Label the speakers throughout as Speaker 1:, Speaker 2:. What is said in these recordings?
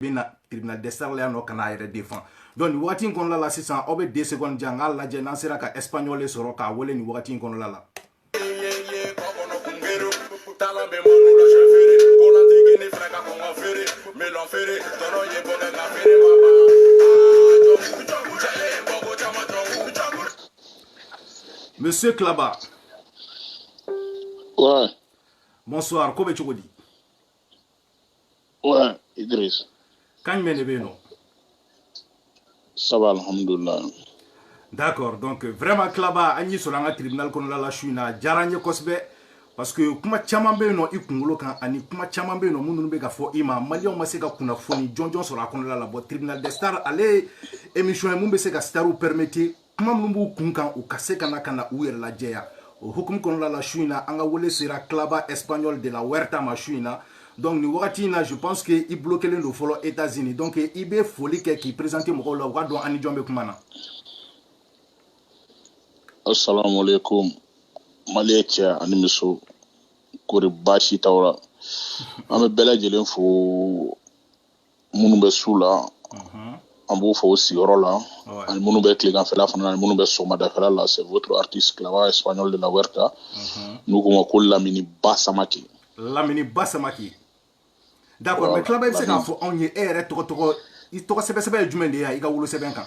Speaker 1: bɛ na tribunal des stars la yan nɔ ka n'a yɛrɛ défendre donc nin wagati in kɔnɔla la sisan aw bɛ deux secondes di an k'a lajɛ n'an sera ka espagnol sɔrɔ k'a wele nin wagati in kɔnɔla la Monsieur Klaba. Ouais.
Speaker 2: Bonsoir,
Speaker 1: ko bɛ cogo di?
Speaker 2: Ouais Idriss. kan jumɛn
Speaker 1: de bɛ yen nɔ?
Speaker 2: ça va alhamdulilah. d'accord
Speaker 1: donc vraiment Klaba an y'i sɔrɔ an ka tribunal kɔnɔna la su in na a diyara an ye kosɛbɛ parce que kuma caman bɛ yen nɔ i kunkolo kan ani kuma caman bɛ yen nɔ minnu bɛ ka fɔ i ma maliyɛnw ma se ka kunnafoni jɔnjɔn sɔrɔ a kɔnɔna la bon tribunal des stars ale ye émission ye mun bɛ se ka starw permettre kuma minnu b'u kun kan u ka se ka na ka na u yɛrɛ lajɛya o hukumu kɔnɔla la su in na an ka wele sera Klaba espagnol de la Huerta ma su in na donc nin wagati in na je pense que i bloquélen don fɔlɔ États-Unis donc i bɛ foli kɛ k'i présenter mɔgɔw la u ka dɔn an ni jɔn bɛ kuma
Speaker 2: na assalamu alaikum maliyɛn cɛ ani muso kori baasi t'aw la an bɛ bɛɛ lajɛlen fo minnu bɛ su la an b'u fo u sigiyɔrɔ la ani minnu bɛ tileganfɛla fana ani minnu bɛ sɔgɔmadafɛla la c'est votre artiste Klaba espagnol de la Huerta n'u k'o ma ko Lamini Ba Samake Lamini
Speaker 1: Ba Samake d'accord mais Klaba i bɛ se k'a fɔ anw ye e yɛrɛ tɔgɔ tɔgɔ i tɔgɔ sɛbɛ sɛbɛ ye jumɛn de ye yan i ka wolosɛbɛn kan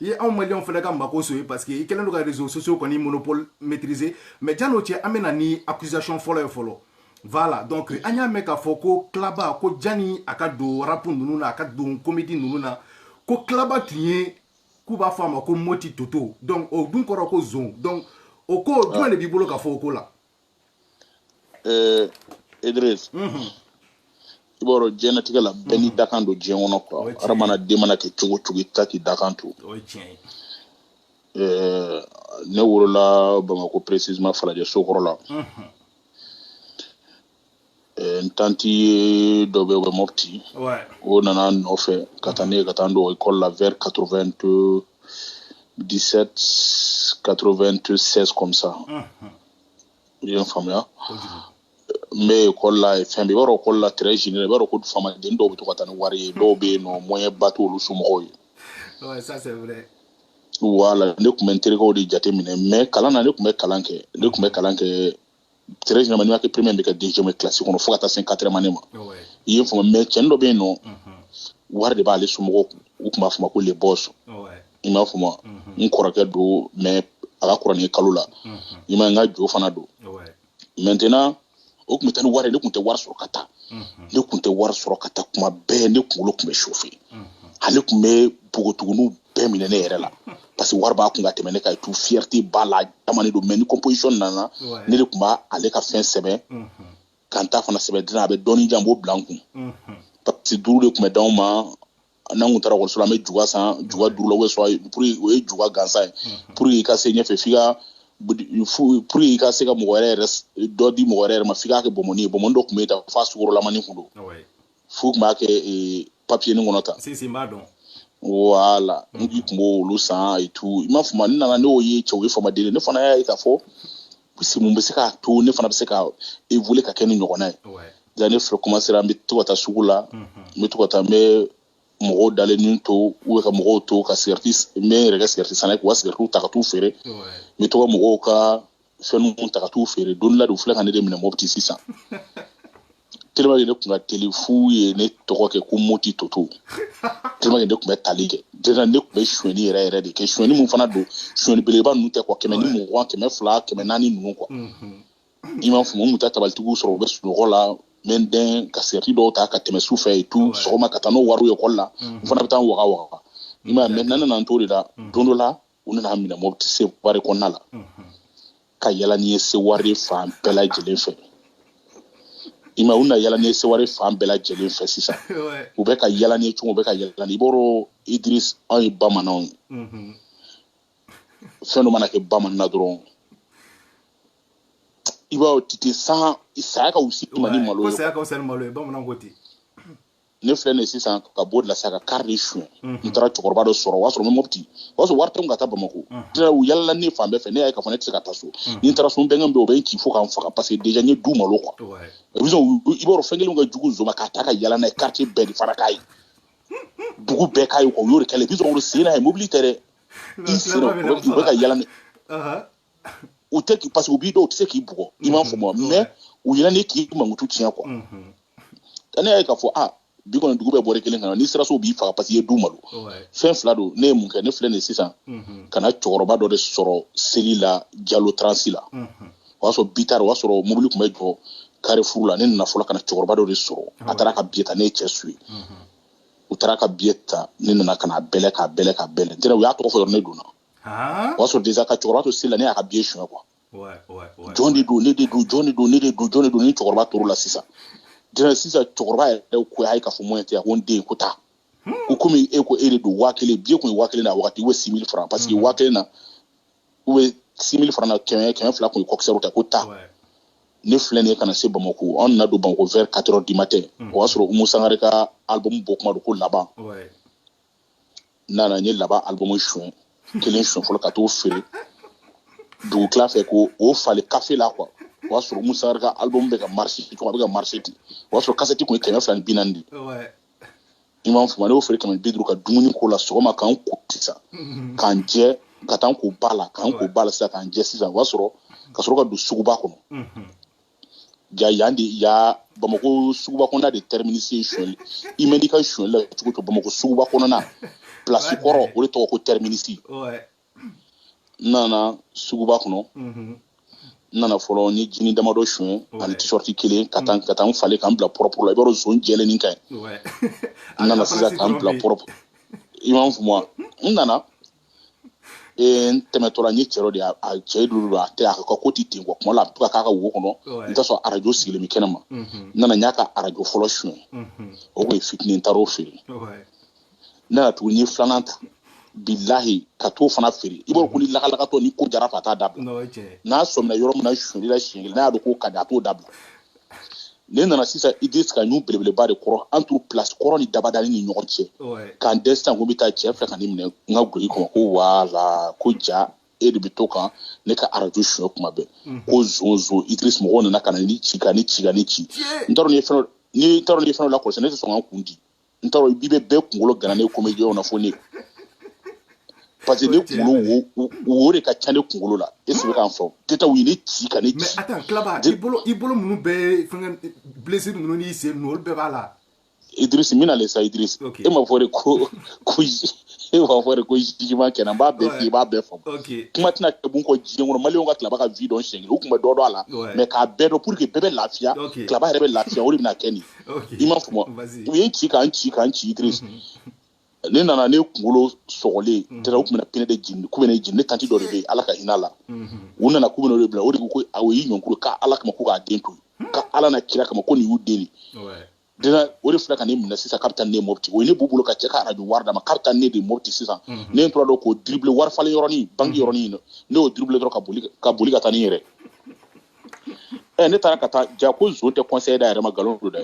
Speaker 1: i ye anw maliyɛnw fana ka Makosso ye parce que i kɛlen don ka réseaux sociaux kɔni monopole maîtriser mais jan'o cɛ an bɛna ni accusation fɔlɔ ye fɔlɔ voilà donc an y'a mɛn k'a fɔ ko Klaba ko jani a ka don rap ninnu na a ka don comédie ninnu na ko Klaba tun ye k'u b'a fɔ a ma ko moti toto donc o dun kɔrɔ ko zon donc o ko jumɛn de b'i bolo ka fɔ o ko la
Speaker 2: Euh, Idriss. Mhm. i b'a dɔn diɲɛnatigɛ la bɛɛ n'i dakan don diɲɛ kɔnɔ quoi hadamaden mana kɛ cogo o cogo i ta k'i dakan
Speaker 1: to euh,
Speaker 2: ne wolola bamako précisement falajɛ sokɔrɔ la mhm. n tanti dɔ bɛ bɛ Mopti o nana n nɔfɛ ka taa ni n ye ka taa n don école la vers quatre-vingt-dix-sept quatre-vingt-seize comme ça i ye n faamuya n bɛ école la fɛn i b'a dɔn école la très i b'a dɔn ko faamaden dɔw bɛ to ka taa ni wari ye dɔw bɛ yen nɔ moyen ba t'olu somɔgɔw
Speaker 1: ye voilà
Speaker 2: ne tun bɛ n terikɛw de jateminɛ mais kalan na ne tun bɛ kalan kɛ ne tun bɛ kalan kɛ très généralement n'i ma kɛ premier bɛ kɛ deuxième ye classe kɔnɔ fo ka taa se quatrième année ma i ye n faamu mais cɛnin dɔ bɛ yen nɔ wari de b'ale somɔgɔw kun u tun b'a fɔ ma ko le boss i m'a faamu wa n kɔrɔkɛ don mais a ka kɔrɔ ni kalo la i ma n ka jo fana don maintenant o tun bɛ taa ni wari ye ne tun tɛ wari sɔrɔ ka taa ne tun tɛ wari sɔrɔ ka taa kuma bɛɛ ne kunkolo tun bɛ chauffer ale tun bɛ npogotigininw bɛɛ minɛ ne yɛrɛ la parce que wari b'a kun ka tɛmɛ ne kan tout fierté b'a la jamane don mais ni composition nana ne de tun b'a ale ka fɛn sɛbɛn ka n ta fana sɛbɛn dilan a bɛ dɔɔni jan b'o bila n kun parce que duuru de tun bɛ d'anw ma n'an tun taara ekɔliso la an bɛ juga san juga duuru la ou soit pour o ye juga gansan ye pour que i ka se ɲɛfɛ f'i ka pour que i ka se ka mɔgɔ yɛrɛ yɛrɛ dɔ di mɔgɔ yɛrɛ yɛrɛ ma f'i k'a kɛ bɔnmɔni ye bɔnmɔni dɔ tun bɛ yen ta f'a sukorolamani tun don f'u tun b'a kɛ ee, papiyeni kɔnɔ tan sisan i b'a
Speaker 1: dɔn voilà
Speaker 2: n k'i tun b'olu san et tout i m'a faamu n nana ne y'o ye cɛ o ye faamaden ye ne fana y'a ye k'a fɔ puisque mun bɛ se k'a to ne fana bɛ se ka évoluer ka kɛ nin ɲɔgɔnna ye ouais ja ne filɛ commencer n bɛ to ka taa sugu la n bɛ to ka taa n bɛ mɔgɔw dalennin to ou bɛ ka mɔgɔw to ka cigarette s- n bɛ n yɛrɛ kɛ cigarette sanna ye k'u ka cigarette ta ka t'u feere ouais n bɛ to ka mɔgɔw ka fɛn ninnu ta ka t'u feere don dɔ la de u filɛ ka ne de minɛ mopti sisan tellement que ne tun ka teli f'u ye ne tɔgɔ kɛ ko moti toto tellement que ne tun bɛ tali kɛ déjà ne tun bɛ sonyɛni yɛrɛ yɛrɛ de kɛ sonyɛni min fana don sonyɛni belebeleba ninnu tɛ quoi kɛmɛ ni mugan kɛmɛ fila kɛmɛ naani ninnu quoi i m'a faamu n tun tɛ tabalitigiw sɔrɔ u bɛ sunɔgɔ la n bɛ n dɛn ka cigarette dɔw ta ka tɛmɛ su fɛ et tout sɔgɔma ka taa n'o wariw ye ekɔli la n fana bɛ taa n waga waga i m'a ye maintenant n nana n t'o de la don dɔ la u nana n minɛ mopti seware kɔnɔna la ka yala ni n ye seware fan bɛɛ lajɛlen fɛ i ma u na yala ni n ye seware fan bɛɛ lajɛlen fɛ sisan u bɛ ka yala ni cogo u bɛ ka yala ni i b'a dɔn idris anw ye bamananw ye fɛn dɔ mana kɛ bamanan na dɔrɔn i b'a titi san saya ka wusi ma ni malo ye saya ka wusa ni malo ye bamananw
Speaker 1: ko ten ne
Speaker 2: filɛ nin sisan ka bɔ o de la sa ka kari de suɲɛ n taara cɛkɔrɔba dɔ sɔrɔ o y'a sɔrɔ n bɛ mɔti o y'a sɔrɔ wari tɛ ka taa bamakɔ u yalala ne fan bɛɛ fɛ ne y'a ye k'a fɔ ne tɛ se ka taa so ni n taara so n bɛnkɛ bɛ o bɛ n ci fo ka n faga parce que déjà n ye du malo quoi i b'a dɔn fɛn kelen ka jugu zba k'a ta ka yala n'a ye quartier bɛɛ ni fara k'a ye dugu bɛɛ k'a ye u y'o kɛlɛ bi sen ye mobili tɛ dɛ i bɛ ka yaa u tɛ k'i parce que u b'i dɔn u tɛ se k'i bugɔ i m'a faamu wa mm-hmm. mais u yɛrɛ ni k'i mankutu tiɲɛ quoi mm-hmm. ne y'a ye k'a fɔ ah bi kɔni dugu bɛɛ bɔra kalama n'i sera so u b'i faga parce que i ye du malo fɛn fila don ne ye mun kɛ ne filɛ nin sisan mm-hmm. ka na cɛkɔrɔba dɔ de sɔrɔ seli la jalo transi la o y'a sɔrɔ bitari o y'a sɔrɔ mobili tun bɛ jɔ carrefour la ne nana fɔlɔ ka na cɛkɔrɔba dɔ de sɔrɔ a taara ka biye ta ne ye cɛ su ye u taara ka biye ta ne nana ka n'a bɛlɛn k'a bɛlɛn k'a bɛlɛn n tɛna u y'a tɔgɔ fɔ yɔrɔ ne donna o y'a sɔrɔ déjà ka cɛkɔrɔba to seli la ne y'a ka billet suɲɛ quoi jɔn de don ne de don jɔn de don ne de don jɔn de don ni cɛkɔrɔba tor'o la sisan dira sisan cɛkɔrɔba yɛrɛ ko a ye k'a fɔ moyen tɛ a ko n den ko taa ko komi e ko e de don waa kelen billet kun ye waa kelen na a wagati u bɛ six mille franc parce que waa kelen na u bɛ six mille franc na kɛmɛ kɛmɛ fila kun ye kɔkisɛriw ta ko taa ne filɛ nin ye ka na se bamako an nana don bamako vers quatre heures du matin o y'a sɔrɔ umu sangare ka album bɔ kuma don ko laban n nana n ye laban album suɲɛ kelen suɲɛ fɔlɔ ka t'o feere dugu tila fɛ k'o falen kafe la quoi o y'a sɔrɔ umu sangare ka album bɛ ka marché cogo a bɛ ka marché ten o y'a sɔrɔ kasɛti kun ye kɛmɛ fila ni bi naani de i m'a faamu ne y'o feere kɛmɛ ni bi duuru ka dumuni k'o la sɔgɔma k'an ko sisan mm-hmm. k'an jɛ ka taa n ko ba la k'an ko ba la sisan k'an jɛ sisan o y'a sɔrɔ ka sɔrɔ ka don suguba kɔnɔ mm-hmm. ja yan de ya bamakɔ suguba kɔnɔna de terminus ye suɲɛli i mɛɛn i ka suɲɛli la cogo o cogo bamakɔ suguba kɔnɔna place kɔrɔ o de tɔgɔ ko terminus n nana suguba kɔnɔ n nana fɔlɔ n ye jini damadɔ suɲɛ ani t-shirt kelen ka taa ka taa n falen ka n bila propre la i b'a dɔn zon jɛlen ni ka ɲi n nana sisan ka n bila propre i m'a faamu wa n nana ee n tɛmɛtɔla n ye cɛ dɔ de ye a- a cɛ dulu don a tɛ a ka ko tɛ ten quoi kuma la a bɛ to ka k'a ka wo kɔnɔ Ouais. n t'a sɔrɔ arajo sigilen bɛ kɛnɛ ma Mhm. n nana n y'a ka arajo fɔlɔ suɲɛ Mhm. o tun ye fitinin n taar'o feere Ouais. n nana tuguni n ye filanan ta bilahi ka t'o fana feere i b'a dɔn ko ni lakalakatɔ ni ko jara fa t'a dabila Non, o ye tiɲɛ ye. n'a sɔmina yɔrɔ min na suɲɛli la siɲɛ kelen n'a y'a dɔn k'o ka di a t'o dabila ne nana sisan idris ka ɲun belebeleba de kɔrɔ entre place kɔrɔ ni dabadani ni ɲɔgɔn cɛ k'an dɛn sisan ko n bɛ taa cɛ filɛ ka ne minɛ n ka guloki kɔnɔ ko wala ko ja e de bɛ to ka ne ka arajo suɲɛ kuma bɛɛ mhm. ko zon zon idris mɔgɔw nana ka na ne ci ka ne ci ka ne ci n t'a dɔn n'i ye fɛn dɔ ni n t'a dɔn n'i ye fɛn dɔ lakɔlɔsi ne tɛ sɔn ka n kun di n t'a dɔn i bɛ bɛɛ kunkolo gana ne comédien na fo ne parce que ne kunkolo wo wo de ka ca ne kunkolo la e sigi k'an fɔ keta u ye ne ci ka ne ci mais attends Claba i bolo
Speaker 1: i bolo minnu bɛɛ fɛngɛ blessure ninnu n'i sen ninnu olu bɛɛ b'a la Idriss n
Speaker 2: bɛna le sa Idriss e m'a fɔ de ko ko e b'a fɔ de ko jugement kɛnɛ n b'a bɛɛ f'i ye i b'a bɛɛ faamu kuma tɛna kɛ bi kɔ diɲɛ kɔnɔ maliyɛnw ka Claba ka vie dɔn siɲɛ kelen u tun bɛ dɔ dɔn a la mais k'a bɛɛ dɔn pour que bɛɛ bɛ lafiya Claba yɛrɛ bɛ lafiya o de bɛna kɛ nin ye i m'a faamu u ye n ci ka n ci ka n ci idris mhm. ne nana ne kunkolo sɔgɔlen mhm. tɛrɛ u tun bɛna pneu de jeni k'u bɛ ne jeni ne tanti dɔ de bɛ yen ala ka hinɛ a la mhm. u nana k'u bɛna o de bila o de ko ko o y'i ɲɔngiri ka ala kama ko k'a den to hmm? ka ala n'a kira kama ko nin y'u den de dena o de filɛ ka ne minɛ sisan k'a bɛ taa ne mɔpti o ye ne b'u bolo ka cɛ ka arajo wari d'a ma k'a bɛ taa ne de mɔpti sisan ne tora dɔn k'o diribile wari falen yɔrɔnin banki yɔrɔnin ne y'o diribile dɔrɔn ka boli ka boli ka taa ni yɛrɛ ne taara ka taa ja ko jɔn tɛ conseil d'a yɛrɛ ma nkalon don dɛ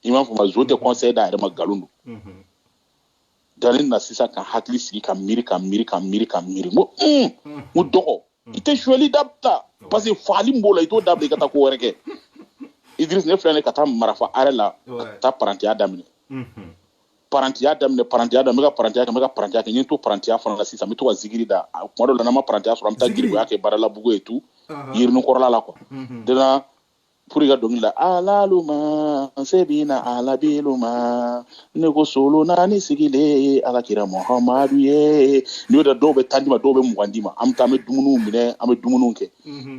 Speaker 2: i m'a fɔ ma jɔn tɛ conseil d'a yɛrɛ ma nkalon don mhm. dalen na sisan ka hakili sigi ka miiri ka miiri ka miiri ka miiri n ko n ko dɔgɔ i tɛ sonyali dabila parce que fagali min b'o la i t'o dabila i ka taa ko wɛrɛ kɛ idirisi ne filɛ ne ka taa marafa arrêt la ka taa parantiya daminɛ parantiya daminɛ parantiya daminɛ n bɛ ka parantiya kɛ n bɛ ka parantiya kɛ n ye n to parantiya fana la sisan n bɛ to ka zikiri da kuma dɔ la n'an ma parantiya sɔrɔ an bɛ taa garibuya kɛ badalabugu yen tu yirinin kɔrɔla la quoi dena pour ka dɔnkili la alaluma se bi na alabiluma ne ko solo naani sigilen ala kira muhamadu ye n'i y'o da dɔw bɛ tan di n ma dɔw bɛ mugan di n ma an bɛ taa an bɛ dumuniw minɛ an bɛ dumuniw kɛ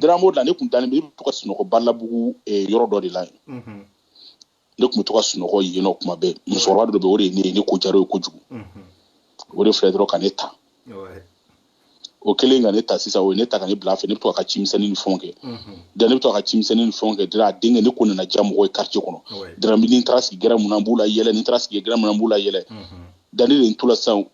Speaker 2: dena an b'o de la ne kun dalen bɛ i bɛ to ka sunɔgɔ badalabugu yɔrɔ dɔ de la yen ne tun bɛ to ka sunɔgɔ yen nɔ kuma bɛɛ musokɔrɔba dɔ bɛ yen o de ye ne ye ne ko diyara a ye kojugu o de filɛ dɔrɔn ka ne ta o kɛlen ka ne ta sisan o ye ne ta ka ne bila fɛ ne bɛ to ka cimisɛnnin ni fɛnw kɛ da ne bɛ to ka cimisɛnnin ni fɛnw kɛ dira a denkɛ ne ko nana diya mɔgɔ ye quartier kɔnɔ dira ni n taara sigi gɛrɛn min na n b'u layɛlɛ ni n taara sigi gɛrɛn min na n b'u layɛlɛ da ne de n to la sisan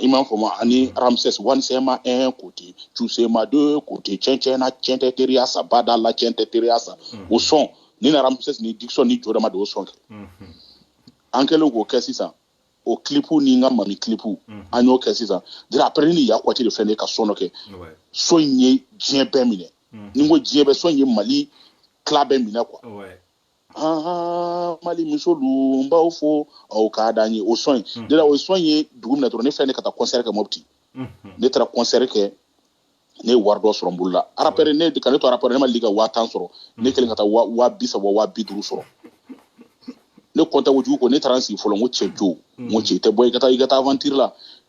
Speaker 2: i m'a fɔ ma ani ramses wanisɛma un côté cusema deux côtés cɛncɛna cɛn tɛ teriya sa bada la cɛn tɛ teriya sa mm-hmm. o sɔn in na ramses ni dikisɔn ni jodama de y'o sɔn kɛ mm-hmm. an kɛlen k'o kɛ sisan o kilipu ni n ka mami kilipu mm-hmm. an y'o kɛ sisan dira après ni ya kwati de fɛn de ka sɔn dɔ kɛ sɔn in ye diɲɛ bɛɛ minɛ ni n ko diɲɛ bɛɛ sɔn in ye mali tila bɛɛ minɛ quoi aa mali musolu n b'aw fo aw ka d'an ye o sɔn ye hmm. de là o sɔn ye dugu minɛ dɔrɔn ne fɛn ne ka taa kɔnsɛri kɛ mɔpti hmm. ne taara kɔnsɛri kɛ ne ye wari dɔ sɔrɔ n bolo la arapɛrɛ ne ka ne to arapɛrɛ ne ma deli ka waa tan sɔrɔ hmm. ne kelen ka taa waa bi saba waa bi duuru sɔrɔ ne content kojugu ko ne taara n sigi fɔlɔ n ko cɛ jo n ko cɛ i tɛ bɔ i ka taa i ka taa avantiri la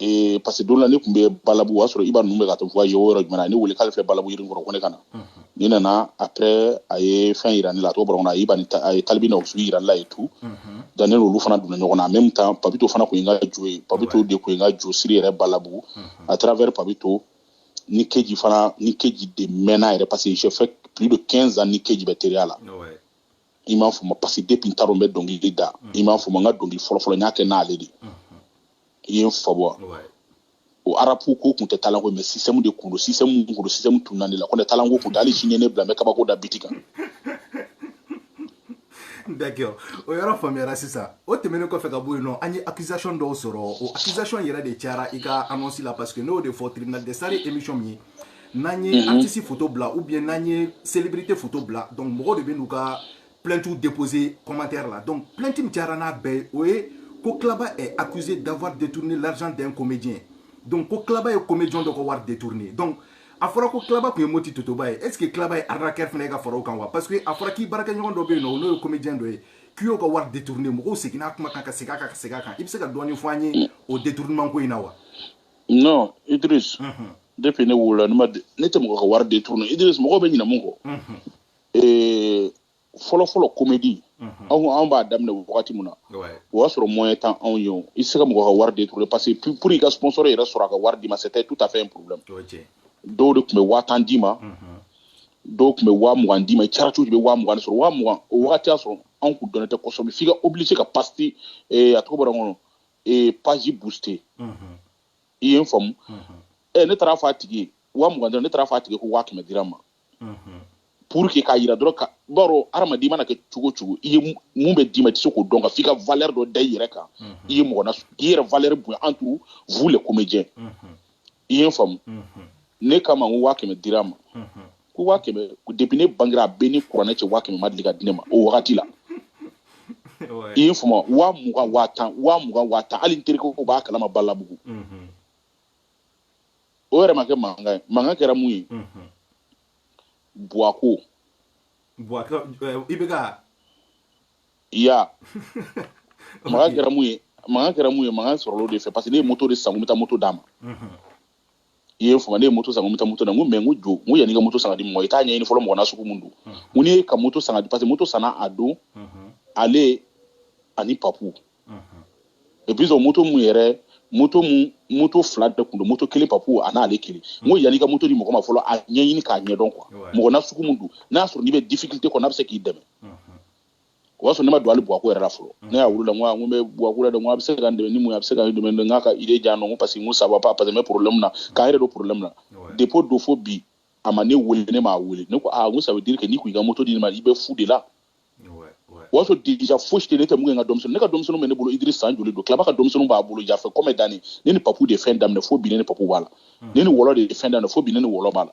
Speaker 2: ee parce que don la ne tun bɛ balabu o y'a sɔrɔ iba ninnu bɛ ka to voyage o yɔrɔ jumɛn na ne wele k'ale bɛ balabu yirinin kɔrɔ ko ne ka na ne nana après a ye fɛn yira ne la a tɔgɔ bɔra n kɔnɔ a iba ni a ye talibi na usuli yira ne la et tout dan ne n'olu fana donna ɲɔgɔn na en même temps papito fana tun ye n ka jo ye papito de tun ye n ka jo siri yɛrɛ balabu à travers papito ni keji fana ni keji de mɛnna yɛrɛ parce que j'ai fait plus de 15 ans ni keji bɛ teriya la i m'a fɔ ma parce que depuis n taara n bɛ dɔnkili da i m'a fɔ ma n ka dɔnkili fɔlɔfɔlɔ n y'a kɛ n'ale de ye il faut voir o arapu ko kun tɛ talent ko mais système de kun don système kun don système tun nani la ko ne talent ko kun tɛ hali sini ne bila n bɛ kabako da biti
Speaker 1: kan d'accord o yɔrɔ faamuyara sisan o tɛmɛnen kɔfɛ ka bɔ yen nɔ an ye accusation dɔw sɔrɔ o accusation yɛrɛ de cayara i ka annonce la parce que ne y'o de fɔ tribunal de sari émission min ye n'an ye mhm. artiste photo bila ou bien n'an ye célébrité photo bila donc mɔgɔw de bɛ n'u ka plainte déposer commentaire la donc plainte min cayara n'a bɛɛ ye o ye ko Klaba est accusé d'avoir détourné l'argent d'un comédien donc ko Klaba ye comédien dɔ ka wari détourné donc a fɔra ko Klaba tun ye moti totoba ye est ce que Klaba ye arnaqueur fana ye ka fara o kan wa parce que a fɔra k'i baarakɛɲɔgɔn dɔ bɛ yen nɔ n'o ye comédien dɔ ye k'i y'o ka wari détourné mɔgɔw seginna a kuma kan ka segin a kan ka segin a kan i bɛ se ka dɔɔni fɔ an ye o détournement ko in na wa.
Speaker 2: non Idriss depuis ne wolola ne ma de- ne tɛ mɔgɔ ka wari détourner Idriss mɔgɔw bɛ ɲinɛ mun kɔ Eh, fɔlɔfɔlɔ comédie anw anw b'a daminɛ wagati min na Ouais. o y'a sɔrɔ moyen tɛ anw ye o i tɛ se ka mɔgɔ ka wari détourner parce que pour- pour i ka sponsor yɛrɛ sɔrɔ a ka wari d'i ma c'était tout à fait un problème O ye tiɲɛ ye. dɔw de tun bɛ waa tan d'i ma dɔw tun bɛ waa mugan d'i ma i caratu de bɛ waa mugan de sɔrɔ waa mugan o wagati y'a sɔrɔ anw kun dɔnnen tɛ kosɛbɛ f'i ka obligé ka pasti eh, a tɔgɔ bɔra n kɔnɔ ee page booster i ye n faamu ne taara fɔ a tigi ye waa mugan dɔrɔn ne taara fɔ a tigi ko waa kɛmɛ dira ma pour que k'a yira dɔrɔn ka b'a dɔn hadamaden mana kɛ cogo cogo i ye mun bɛ d'i ma i tɛ se k'o dɔn ka f'i ka valeur dɔ da i yɛrɛ kan i ye mɔgɔ na k'i yɛrɛ valeur bonya entre vous les comédiens i ye faamu ne k'a ma ko waa kɛmɛ dira ma ko waa kɛmɛ depuis ne bangera a bɛ ni kuranɛ cɛ waa kɛmɛ ma deli ka di ne ma o wagati la i ye faamu waa mugan waa tan waa mugan waa tan hali n terikɛ ko b'a kalama balabugu o yɛrɛ ma kɛ mankan ye mankan kɛra mun ye buwako buwako eh, i bɛ
Speaker 1: ka
Speaker 2: i y'a mankan kɛra mun ye mankan kɛra mun ye mankan sɔrɔla o de fɛ parce que ne ye moto de san ko n bɛ taa moto d'a ma i ye faamu ne ye moto san ko n bɛ taa moto d'a ma n ko mɛ n ko jɔ n ko yanni ka moto san ka di mɔgɔ i t'a ɲɛɲini fɔlɔ mɔgɔ na sugu mun don n ko n'i ye ka moto san ka di parce que moto sanna a don ale ani papu et puis o moto mun yɛrɛ moto mun moto fila de tun don moto kelen papu a n'ale kelen n ko yanni ka moto di mɔgɔ ma fɔlɔ a ɲɛɲini k'a ɲɛdɔn quoi mɔgɔ na sugu mun don n'a sɔrɔ n'i bɛ difficulté kɔnɔ a bɛ se k'i dɛmɛ o b'a sɔrɔ ne ma don ale buwako yɛrɛ la fɔlɔ ne y'a wele la n ko n bɛ buwako la dɛ n ko a bɛ se ka n dɛmɛ ni mun ye a bɛ se ka n dɛmɛ n k'a ka idée di yan ko parce que n ko ça va pas parce que n bɛ problème na k'a yɛrɛ don problème na depuis o don fo bi a ma ne wele ne m'a wele ne ko aa n ko ça veut dire que n'i kun i ka moto di ne ma i bɛ fu de la o y'a sɔrɔ déjà fosi tɛ ne tɛ mun kɛ n ka denmisɛnninw ne ka denmisɛnninw bɛ ne bolo Idriss san joli don Klaba ka denmisɛnninw b'a bolo jafɛ kɔmɛ danni ne ni papu de ye fɛn daminɛ fo bi ne ni papu b'a la ne ni wɔlɔ de ye fɛn daminɛ fo bi ne ni wɔlɔ b'a la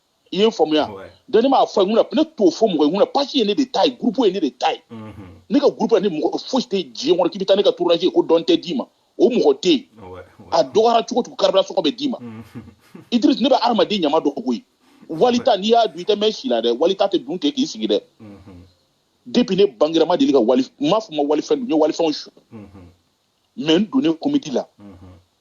Speaker 2: i ye n faamuya dɔnni m'a fɔ mun na ne t'o fɔ mɔgɔ ye mun na page ye ne de ta ye groupe ye ne de ta ye ne ka groupe ni mɔgɔ fosi tɛ diɲɛ kɔnɔ k'i bɛ taa ne ka tournage kɛ dɔ tɛ d'i ma o mɔgɔ tɛ yen a dɔgɔyara cogo cogo carburant sɔngɔ bɛ d'i ma Idriss ne bɛ hadamaden ɲama dɔn koyi walita n'i y'a dun i tɛ mɛn si la dɛ walita tɛ dun tɛ k'i sigi dɛ depuis ne bangera ma deli ka wali m'a fɔ ma walifɛn n ye walifɛnw su mais n donnen comédie la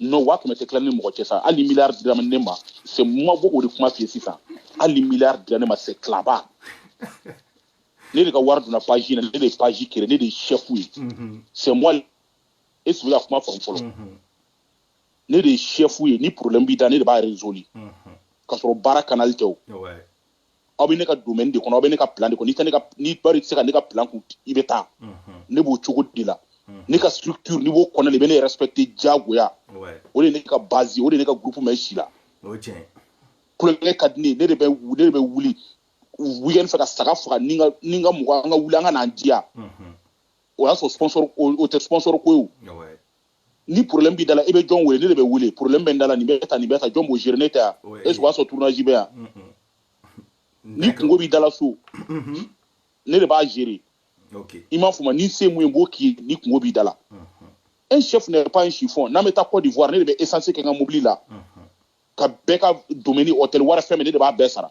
Speaker 1: n'o
Speaker 2: waa kɛmɛ tɛ tila ni mɔgɔ cɛ sa hali miliyari dira ne ma c'est moi n b'o de kuma f'i ye sisan hali miliyari dira ne ma c'est Claba ne de ka wari donna page na ne de ye page créer ne de ye chef ye c'est moi e sigi ka kuma faamu fɔlɔ ne de ye chef ye ni problème b'i da ne de b'a résolu ka sɔrɔ baara canal tɛ o aw bɛ ne ka domaine de kɔnɔ aw bɛ ne ka plan de kɔnɔ n'i tɛ ne ka n'i bari tɛ se ka ne ka plan kun i bɛ taa ne b'o cogo de la ne ka structure n'i b'o kɔnɔ i bɛ ne respecter diyagoya o de ne ka base o de ne ka groupe mais si la kulonkɛ ka di ne ne de bɛ ne de bɛ wuli weekend fɛ ka saga faga ni ka ni n ka mɔgɔ an ka wuli an ka n'an diya o y'a sɔrɔ sponsor o tɛ sponsor ko ye ni problème b'i dala i bɛ jɔn wele ne de bɛ wele problème bɛ n dala nin bɛ ta nin bɛ ta jɔn b'o gérer ne tɛ yan est ce que o y'a sɔrɔ tournage bɛ yan ni kunko b'i dala so mhm. ne de b'a gérer i m'a faamu ni se mun ye n b'o k'i ye ni kunko b'i dala mhm. un chef n'est pas un chiffon n'an bɛ taa Côte d'Ivoire ne de bɛ essence kɛ n ka mobili la mhm. ka bɛɛ ka dumuni hôtel wari fɛn min ne de b'a bɛɛ sara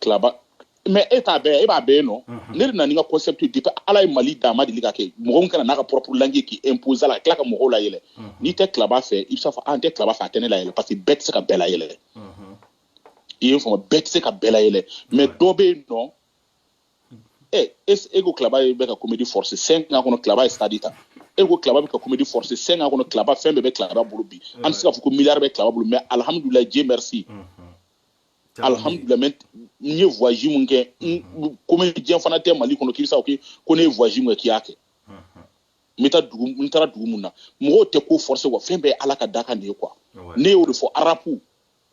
Speaker 2: Claba mais e t'a bɛɛ e b'a bɛɛ nɔ ne de nana ni n ka concept depuis ala ye mali da a ma deli ka kɛ mɔgɔ ka na n'a ka propre langue k'i imposer la ka tila ka mɔgɔw layɛlɛ n'i tɛ Claba fɛ i b'a fɔ n tɛ Claba fɛ a tɛ ne layɛlɛ parce que bɛɛ tɛ se ka bɛɛ layɛlɛ i ye n faamu bɛɛ tɛ se ka bɛɛ layɛlɛ mais dɔ bɛ yen nɔ ɛ e ko Claba ye bɛ ka comédie forcer cinq ans kɔnɔ Claba ye stade ta e ko Claba bɛ ka comédie forcer cinq ans kɔnɔ Claba fɛn bɛɛ bɛ Claba bolo bi an tɛ se k'a fɔ ko milliard bɛ Claba bolo mais alhamdulilayi Dieu merci alhamdulilayi n ye voyage mun kɛ comédien fana tɛ mali kɔnɔ k'i bɛ se k'a fɔ ko ne ye voyage mun kɛ k'i y'a kɛ n bɛ taa dugu n taara dugu mun na mɔgɔw tɛ ko forcer wa fɛn bɛɛ ye ala ka dakan de ye quoi ne y'o de fɔ arapu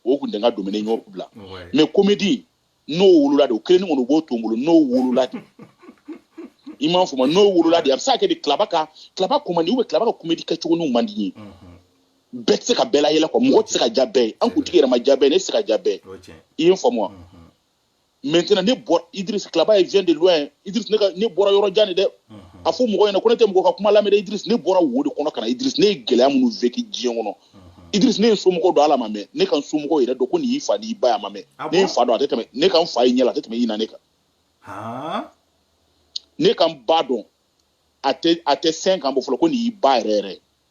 Speaker 2: o kun tɛ n ka domaine n y'o bila mais comédie n'o wolola de o kelen kɔni o b'o to n bolo n'o wolola de i m'a faamu n'o wolola de a bɛ se ka kɛ de Claba ka Claba ko man di ou bien Claba ka comédie kɛcogo n'u man di n ye bɛɛ tɛ se ka bɛɛ layɛlɛ quoi mɔgɔ tɛ se ka diya bɛɛ ye an kuntigi yɛrɛ ma diya bɛɛ ye ne tɛ se ka diya bɛɛ ye i ye n faamu wa maintenant ne bɔra idris Claba vient de loin idris ne, ne bɔra yɔrɔ jan de dɛ a fɔ mɔgɔ ɲɛna ko ne tɛ mɔgɔ ka kuma lamɛn dɛ idris ne bɔra wo de kɔnɔ ka na idris ne ye gɛlɛya minnu vécu diɲɛ kɔnɔ idris ne ye somɔgɔw dɔn ala ma mɛn ne ka n somɔgɔw yɛrɛ dɔn ko nin y'i fa n'i ba ye a ma mɛn ne ye n fa dɔn a tɛ tɛmɛ ne ka n fa ye ɲɛ la a tɛ tɛmɛ ɲinan nin kan ne ka n ba dɔn a tɛ a tɛ cinq ans bɔ fɔlɔ ko nin y'i ba yɛrɛ yɛrɛ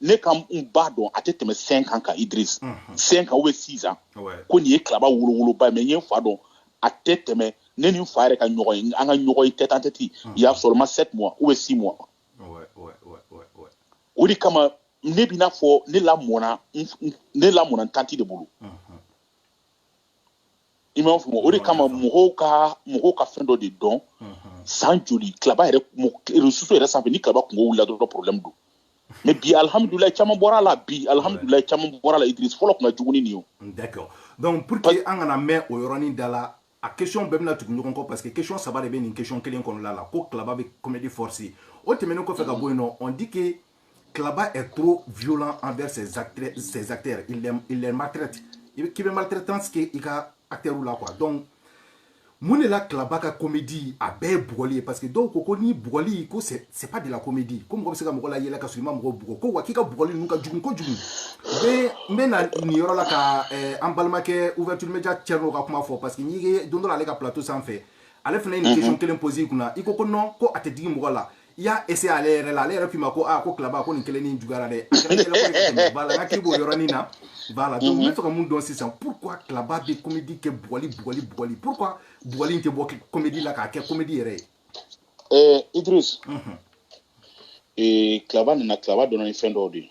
Speaker 2: ne ka n ba dɔn a tɛ tɛmɛ cinq ans kan idris cinq ans ou bien six ans ko nin ye Claba wolowoloba mais n ye n fa dɔn a tɛ tɛmɛ ne ni n fa yɛrɛ ka ɲɔgɔn ye an ka ɲɔgɔn ye tête en tête il y a seulement sept mois ou bien six mois o de kama ne b'i n'a fɔ ne lamɔna ne lamɔna n tanti de bolo i m'a faamu o de kama mɔgɔw ka mɔgɔw ka fɛn dɔ de dɔn san joli Klaba yɛrɛ réseaux sociaux yɛrɛ sanfɛ ni Klaba kunko wulila dɔrɔn problème don mais bi alhamdulilayi caman bɔra a la bi alhamdulilayi caman bɔra a la idris fɔlɔ tun ka jugu ni nin ye d'accord
Speaker 1: donc pour que an kana mɛn o yɔrɔnin da la a question bɛɛ bɛna tugu ɲɔgɔn kɔ parce que question saba de bɛ nin question kelen kɔnɔna la ko Klaba bɛ comédie forcer o tɛmɛnen kɔfɛ ka bɔ yen nɔ on dit que Klaba est trop violent envers ses acteurs, ses acteurs. Il, les, il les maltraite. K'i bɛ maltraitance kɛ i ka acteurw la quoi. Donc, mun de la Klaba ka comédie a bɛɛ ye bugɔli ye parce que dɔw ko ko ni bugɔli ko c'est c'est pas de la comédie ko mɔgɔ bɛ se ka mɔgɔ layɛlɛ ka sɔrɔ i ma mɔgɔ bugɔ ko wa k'i ka bugɔli ninnu ka jugu kojugu n n bɛ na nin yɔrɔ la ka eh, an balimakɛ ouverture média cɛrno ka kuma fɔ parce que n'i ye don dɔ la ale ka plateau sanfɛ ale fana ye nin mhm. question kelen poser i kunna i ko ko non ko a tɛ digi mɔgɔ la i y'a essayer ale yɛrɛ la ale yɛrɛ k'i ma ko aa ko Klaba ko nin kelen nin juguyara dɛ voilà n hakili b'o yɔrɔnin na voilà donc n bɛ fɛ ka mun dɔn sisan pourquoi Klaba bɛ comédie kɛ bugɔli bugɔli bugɔli pourquoi bugɔli in tɛ bɔ comédie la k'a kɛ comédie yɛrɛ ye
Speaker 2: ɛɛ idris ee Klaba nana Klaba donna ni fɛn dɔw de ye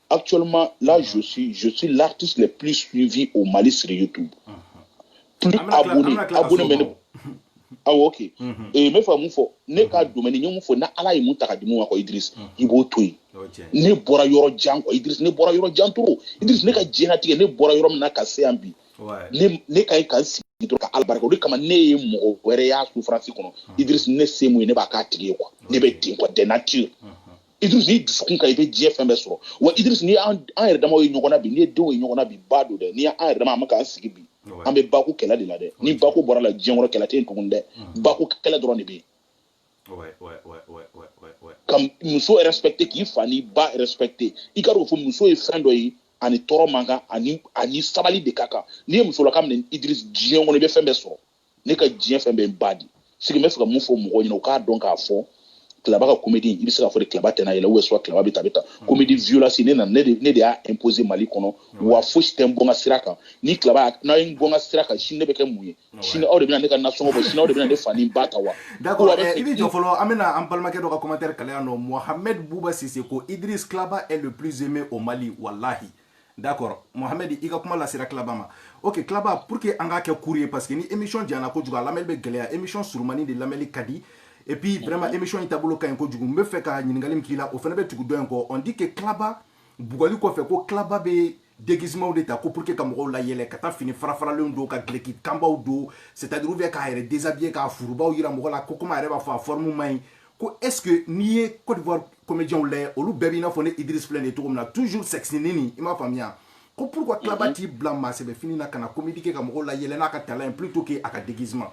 Speaker 2: Actuellement, là, mm-hmm. je suis, je suis l'artiste le plus suivi au Mali sur YouTube. Mm-hmm. Plus abonné, abonné, mais ah ok mm-hmm. et n bɛ fɛ ka mun fɔ ne ka domaine n ye mun fɔ na ala ye mun ta ka di mun ma quoi idris i b'o to yen ne bɔra yɔrɔ jan quoi idris ne bɔra yɔrɔ jan trop idris ne ka diɲɛnatigɛ ne bɔra yɔrɔ min na ka se yan bi ne ka ɲi ka n sigi dɔrɔn ka ala barika da o de kama ne ye mɔgɔ wɛrɛ y'a souffrance kɔnɔ idris ne se mun ye ne b'a k'a tigi ye quoi ne bɛ ten quoi de nature Idriss n'i dusukun ka ɲi i bɛ diɲɛ fɛn bɛɛ sɔrɔ wa Idriss n'i y'an an yɛrɛ damaw ye ɲɔgɔn na bi n'i ye denw ye ɲɔgɔn na bi ba don dɛ n'i y'an yɛrɛ dama an bɛ k'an sigi bi an bɛ bako kɛlɛ de la dɛ ni bako bɔra la diɲɛ kɔnɔ kɛlɛ tɛ yen tugun dɛ bako kɛlɛ dɔrɔn de bɛ yen ka muso respecter k'i fa n'i ba respecter i k'a dɔn fɔ muso ye fɛn dɔ ye a ni tɔɔrɔ man kan a ni a ni sabali de ka kan n'i ye musolaka minɛ Idriss diɲɛ kɔnɔ i bɛ fɛn bɛɛ sɔrɔ ne ka diɲɛ fɛn bɛ n ba de sigi n bɛ fɛ ka mun fɔ mɔgɔw ɲɛna u k'a dɔn k'a fɔ Klaba ka comédie i bɛ se k'a fɔ de Klaba tɛna yɛlɛ ou bien soit Klaba bɛ ta bɛ ta comédie hmm. violence ne nana ne de ne de y'a imposer mali kɔnɔ hmm. wa fosi tɛ n bɔ n ka sira kan ni Klaba n'a ye n bɔ n ka sira kan sini ne bɛ kɛ mun ye hmm. sini aw de bɛna ne ka nasɔngɔ bɔ sini aw de bɛna ne fa ni ba ta wa. d'accord eh, i bɛ
Speaker 1: jɔ fɔlɔ an bɛna an balimakɛ dɔ ka commentaire kalan yan nɔ mohamed buba sise ko idris Klaba est le plus aimé au mali walahi. d'accord mohamed i ka kuma lasera Klaba ma ok Klaba pour que an k'a kɛ court ye parce que ni émission janyana kojugu a lamɛnni bɛ gɛlɛya émission surumani de lamɛnni ka di et puis vraiment mhm. émission in taabolo ka ɲi kojugu n bɛ fɛ ka ɲininkali min k'i la o fana bɛ tugu dɔ in kɔ on dit que Klaba bugɔli kɔfɛ ko Klaba bɛ déguisement de ta ko pour que ka mɔgɔw layɛlɛ ka taa fini farafaralenw don ka dulɔki kanbaw don c'est à dire ou bien k'a yɛrɛ déshabiller k'a furubaw yira mɔgɔ la ko komi a yɛrɛ b'a fɔ a forme man ɲi ko est ce que n'i ye côte d'ivoire comédienw lajɛ olu bɛɛ b'i n'a fɔ ne idris filɛ nin cogo min na toujours sexy nin nin i m'a faamuya ko pourquoi kilaba mhm. t'i bila maasɛbɛ fini na ka na comédie kɛ ka mɔgɔw la yɛlɛ n'a ka talent ye plutôt que a ka déguisement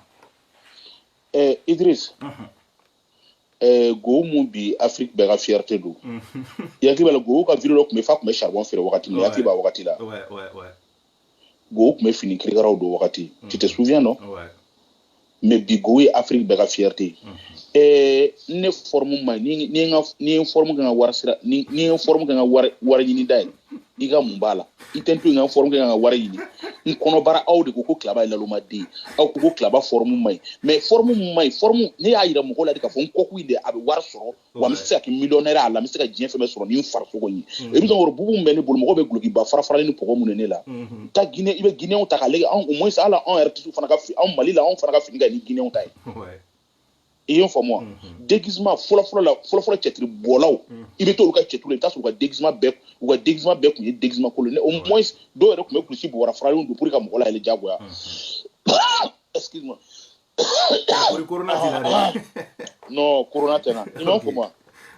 Speaker 1: eh,
Speaker 2: idris uh mhm. -huh. eh, gohou min bi afrique bɛɛ ka fierté don mhm. i hakili b'a la gohou ka video dɔ tun bɛ fa tun bɛ charbon feere wagati min i hakili b'a wagati la Gohou tun bɛ fini kirikaraw don wagati mm. tu te souviens non ouais. mais bi gohou ye Afrique bɛɛ ka fierté mm -hmm. eh, ne forme man ɲi nga ni n ye n forme kɛ n ka wari sira ye ni n ye n forme kɛ n ka wari wari ɲini da ye i ka mun b'a la i t'a to n ka forme kɛ ka wari ɲini n kɔnɔbara aw de ko ko kilaba ye laloma de ye aw ko ko kilaba forme man ɲi mais forme man ɲi forme ne y'a yira mɔgɔw la de k'a fɔ n kɔkun in de a bɛ wari sɔrɔ wa n bɛ se ka kɛ millionnaire a la n bɛ se ka diɲɛ fɛn bɛɛ sɔrɔ ni n farisogo ye i bɛ sɔrɔ bubu min bɛ ne bolo mɔgɔ bɛ dulokiba farafaralen ni bɔgɔ mun de ne la taa Guinée i bɛ Guinéenw ta k'a lajɛ anw au moins hali anw yɛrɛ tisiw fana ka fi anw Mali la anw fana ka fini ka ɲi ni Guinéenw ta ye i ye n faamu wa déguisement fɔlɔfɔlɔ la fɔlɔfɔlɔ cɛtiri bɔlaw i bɛ t'olu ka cɛtiri la i bɛ t'a sɔrɔ u ka déguisement bɛɛ u ka déguisement bɛɛ tun ye déguisement kolon ye au moins dɔw yɛrɛ tun bɛ kulusi bobara faralenw don pour que ka mɔgɔ layɛlɛ diyagoya excuse moi corona tɛ n na dɛ. non corona tɛ n na i m'a faamu wa.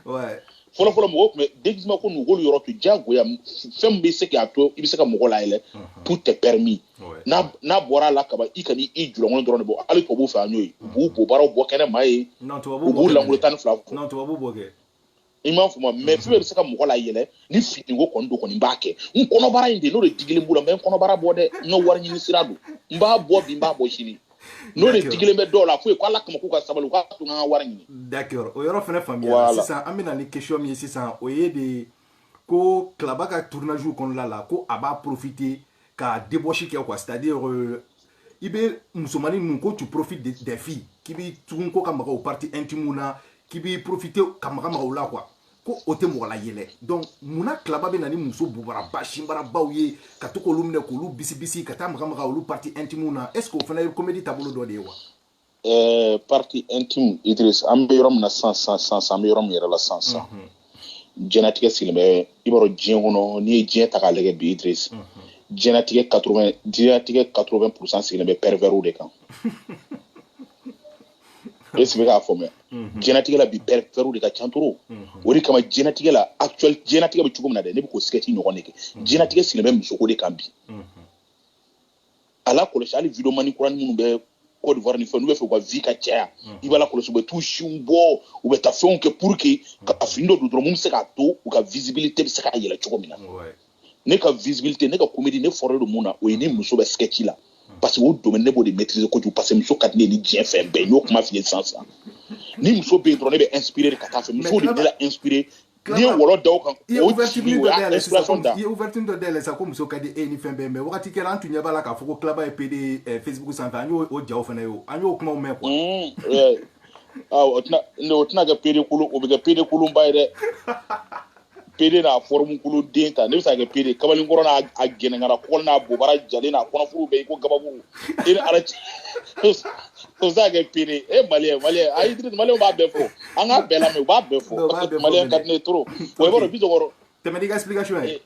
Speaker 2: ouais. fɔlɔfɔlɔ mɔgɔw tun bɛ déguisement ko ninnu u k'olu yɔrɔ to diyagoya fɛn min bɛ se k'a to i bɛ se ka mɔgɔ layɛlɛ tout est permis n'a n'a bɔra a la kaban i kana i julankolon dɔrɔn de bɔ hali tubabuw fɛ yan y'o ye u b'u bobaraw bɔ kɛnɛ ma yen u b'u lankolon tan ni fila non tubabuw b'o kɛ i m'a faamu mais fɛn bɛɛ bɛ se ka mɔgɔ la yɛlɛ ni finiko kɔni don kɔni n b'a kɛ n kɔnɔbara in de n'o de digilen b'u la n bɛ n kɔnɔbara bɔ dɛ n ka wari ɲini sira don n b'a bɔ bi n b'a bɔ sini n'o de digilen bɛ dɔw la fɔ u ye ko ala kama k'u ka sabali u k'a to n ka wari ɲini d'accord o yɔrɔ
Speaker 1: fana faamuyara sisan an bɛ na ni question min ye sisan o ye de ko kilaba ka tournage kɔnɔna la ko a b'a profiter ka débauche kɛ quoi c'est à dire euh, i bɛ musomanin ninnu ko tu profites de des filles k'i bɛ tugu u kɔ ka maga u partie intime na k'i bɛ profiter ka maga maga u la quoi ko o tɛ mɔgɔ la yɛlɛ donc munna kilaba bɛ na ni muso bobaraba sinbarabaw ye ka to k'olu minɛ k'olu bisibisi ka taa maga maga olu partie intime na est ce que o fana ye comédie taabolo dɔ de ye wa Ɛɛ partie
Speaker 2: intime idris an bɛ yɔrɔ min na sisan sisan an bɛ yɔrɔ min yɛrɛ la sisan diɲɛlatigɛ sigilen bɛ i b'a dɔn diɲɛ kɔnɔ n'i ye diɲɛ ta k'a lajɛ bi idris diɲɛlatigɛ ka diɲɛlatigɛ quatre vingt pourcent sigilen bɛ perversw de kan est ce que i k'a faamuya diɲɛlatigɛ la bi perversw de ka ca trop o de kama diɲɛlatigɛ la a diɲɛlatigɛ bɛ cogo min na dɛ ne bɛ k'o sketch ɲɔgɔn de kɛ diɲɛlatigɛ sigilen bɛ musoko de kan bi a lakɔlɔsi hali video mani kurani minnu bɛ Côte d'Ivoire ni fɛn n'u b'a fɛ u ka vue ka caya mm. i b'a lakɔlɔsi u bɛ t'u sinw bɔ u bɛ taa fɛnw kɛ pour que ka mm. fini dɔ don dɔrɔn mun bɛ se k'a to u ka visibilité bɛ se ka yɛlɛ cogo min na ne ka visibilité ne ka comédie ne fort don mun na o ye ni muso bɛ sketch la mm. parce que o domaine ne b'o de maîtriser kojugu parce que muso ka di ne ye ni diɲɛ fɛn bɛɛ n y'o kuma f'i ye sisan sisan ni muso bɛ yen dɔrɔn ne bɛ inspirer ka taa a fɛ musow de bɛ ne la inspirer n'i ye wɔlɔ da o kan o jigin o y'a inspiration da i ye ouverture dɔ
Speaker 1: dayɛlɛ
Speaker 2: sisan
Speaker 1: ko muso ka di e ni fɛn bɛɛ mais wagati kɛra an tun ɲɛ b'a la k'a fɔ ko Klaba ye pd eh, facebook sanfɛ an y'o o jaw fana ye o an y'o kumaw mɛn quoi mm,
Speaker 2: ah, o tɛna kɛ pd kolon o bɛ kɛ pd kolonba ye dɛ pd n'a forme kolo den ta ne bɛ se ka kɛ pd kamalen kɔrɔ n'a gɛnɛnkara kɔkɔli n'a bobara jalen n'a kɔnɔfuru bɛ i ko gabakuru e ni ala cɛ O bɛ se ka kɛ pd e maliyɛn maliyɛn ayi maliyɛnw b'a bɛɛ fɔ an k'a bɛɛ lamɛn u b'a bɛɛ fɔ maliyɛn ka di ne ye trop i b'a dɔn Bisɔkɔrɔ tɛmɛ n'i ka explication
Speaker 1: ye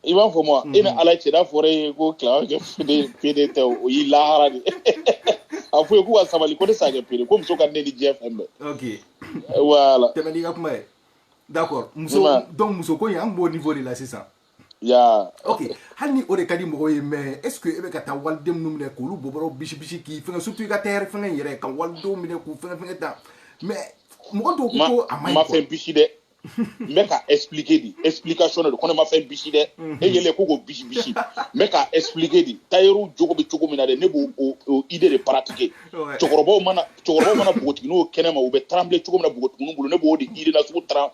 Speaker 1: i b'a fɔ ma
Speaker 2: e ni ala cɛ n'a fɔra i ye ko Klaba kɛ pd tɛ o y'i lahara de a fɔ ye k'u ka sabali ko ne se ka kɛ pd ko muso ka di ne ni diɲɛ fɛn
Speaker 1: bɛɛ voilà
Speaker 2: tɛmɛ n'i ka kuma ye
Speaker 1: d'accord muso donc muso ko an b'o niveau de la sisan ya ok hali ni o de ka di mɔgɔw ye mais est ce que e bɛ ka taa waliden minnu minɛ k'olu bobara bisi bisi k'i fɛngɛ surtout i ka tayɛri fɛngɛ in yɛrɛ ka walidenw minɛ k'u fɛngɛ fɛngɛ ta mais mɔgɔ dɔw ko ko a man ɲi quoi n ma fɛn bisi dɛ n bɛ ka
Speaker 2: expliquer de explication de don ko ne ma fɛn bisi dɛ e yɛrɛ ko k'o bisi bisi n bɛ ka expliquer de tayɛriw jogo bɛ cogo min na dɛ ne b'o o idée de pratiquer cɛkɔrɔbaw mana cɛkɔrɔbaw mana npogotigininw kɛnɛ ma u bɛ trembler cogo min na npogotigininw bolo ne b'o de idée na sugu tremble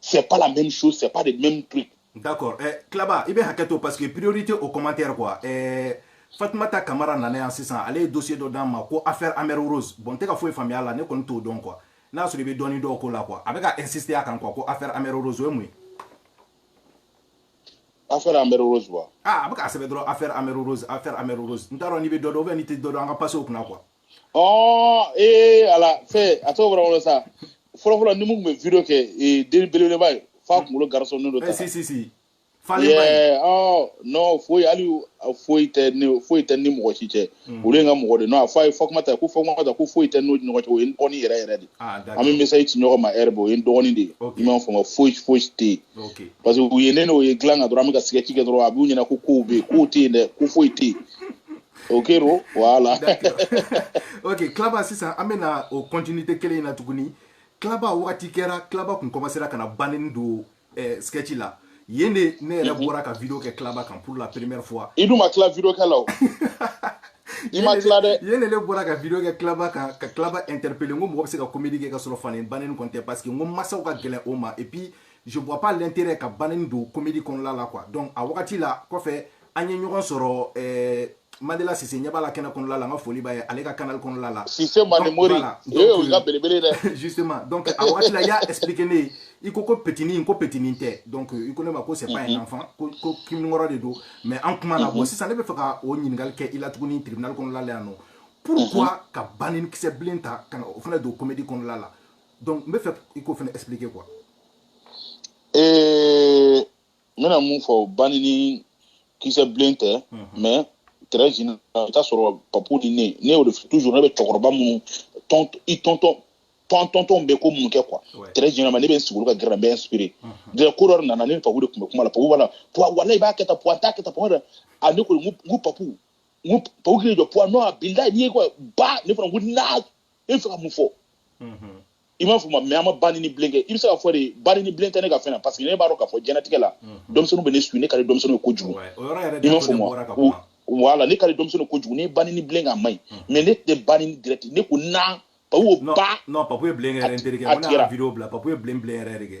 Speaker 2: c'est pas la même chose, c'est pas le même truc. D'accord. Eh,
Speaker 1: Klaba, i bɛ hakɛto parce que priorité au commentaire quoi. Eh, Fatumata Kamara nana yan sisan ale ye dossier dɔ d'an ma ko affaire Amère Rose bon n tɛ ka foyi faamuya a la ne kɔni t'o dɔn quoi n'a sɔrɔ i bɛ dɔɔni dɔn o la quoi a bɛ ka insister a kan quoi ko affaire Amère Rose o ye mun
Speaker 2: ye. affaire Amère Rose wa. aa ah, a bɛ k'a sɛbɛn dɔrɔn
Speaker 1: affaire Amère Rose affaire Amère Rose n t'a dɔn n'i bɛ dɔ dɔn ou bien n'i tɛ dɔ dɔn an ka passer o kunna quoi.
Speaker 2: ɔɔ ee ala fɛ a tɔgɔ bɔra n kɔnɔ sa fɔlɔfɔlɔ n ni min tun bɛ video kɛ ee den belebeleba ye f'a kunkolo garisonnen don Eh, ta si si si falen ba
Speaker 1: ye Yeah,
Speaker 2: ɔɔ non foyi hali u- a foyi tɛ ne foyi tɛ n ni mɔgɔ si cɛ olu ye n ka mɔgɔ de non a fɔ a ye Fatumata ko Fatumata ko foyi tɛ n'o ni ɲɔgɔn cɛ o ye n dɔgɔnin yɛrɛ yɛrɛ de ye. ah d'accord an bɛ message ci ɲɔgɔn ma heure bɛɛ o ye n dɔgɔnin de ye Ok. i m'a faamu foyi foyi tɛ yen ok parce que u ye ne n'o ye dilan kan dɔrɔn an bɛ ka sketch kɛ dɔrɔn a b'u ɲɛna ko kow bɛ yen kow tɛ yen dɛ ko foyi tɛ yen O kɛra o
Speaker 1: voilà ok Klaba sisan an bɛna o continuité kelen in na tuguni Klaba waati kɛra Klaba tun commencera ka na bannen don sketch la yen de ne yɛrɛ bɔra ka vidéo kɛ Klaba kan pour la première fois i dun ma tila vidéo kɛ
Speaker 2: la i ma tila dɛ yen de ne bɔra ka vidéo
Speaker 1: kɛ Klaba kan ka Klaba interpeller n ko mɔgɔ bɛ se ka comédie kɛ ka sɔrɔ fani bannen kɔni tɛ parce que n ko mansaw ka gɛlɛn o ma et puis je vois pas l'intérêt ka bannen don comédie kɔnɔna la quoi donc a wagati la kɔfɛ an ye ɲɔgɔn sɔrɔ ɛɛ Mandela Sise ɲɛ b'a la kɛnɛ kɔnɔla la n ka foli b'a ye ale ka canal kɔnɔla la Sise
Speaker 2: Manemori o ye olu ka belebele dɛ justement donc a wagati
Speaker 1: la i y'a expliquer ne ye i ko ko petini ko petini tɛ donc i ko ne ma ko c'est pas un enfant ko ko kiminikɔrɔ de don mais an kuma na bon sisan ne bɛ fɛ ka o ɲininkali kɛ i la tuguni tribunal kɔnɔla la yan nɔ pourquoi ka banini kisɛ bilen ta ka na o fana don comédie kɔnɔla la donc n bɛ fɛ i k'o fana expliquer quoi. Ee
Speaker 2: n bɛna mun fɔ banini kisɛ bilen tɛ mais très général i bɛ t'a sɔrɔ papu ni ne ne y'o de fɔ toujours ne bɛ cɛkɔrɔba minnu tɔn i tonton tɔn tonton bɛ ko mun kɛ quoi très généralement ne bɛ n sigi olu ka gɛrɛ n bɛ inspiré dɛrɛ ko dɔ de nana ne ni papu de tun bɛ kuma la papu b'a la puwa walayi i b'a kɛ tan puwa n t'a kɛ tan puwa dɛ a ne ko n ko n ko papu n ko papu k'i jɔ puwa non a bilayi n'i ye ko ba ne fana n ko na e bɛ fɛ ka mun fɔ i m'a faamu wa mais an ma banini bilen kɛ i bɛ se k'a fɔ de banini bilen tɛ ne ka fɛn na parce que ne b'a dɔn k'a fɔ diɲɛlatigɛ la denmisɛnninw bɛ ne suit ne ka di denmisɛnninw ye kojugu i m'a faamu wa voilà ne ka di denmisɛnninw ye kojugu ne banini bilen k'a man ɲi mais ne tɛ banini direct ne ko na papu ba non
Speaker 1: papu ye bilen kɛ yɛrɛ n terikɛ n ko ne y'a video bila papu ye bilen bilen yɛrɛ de kɛ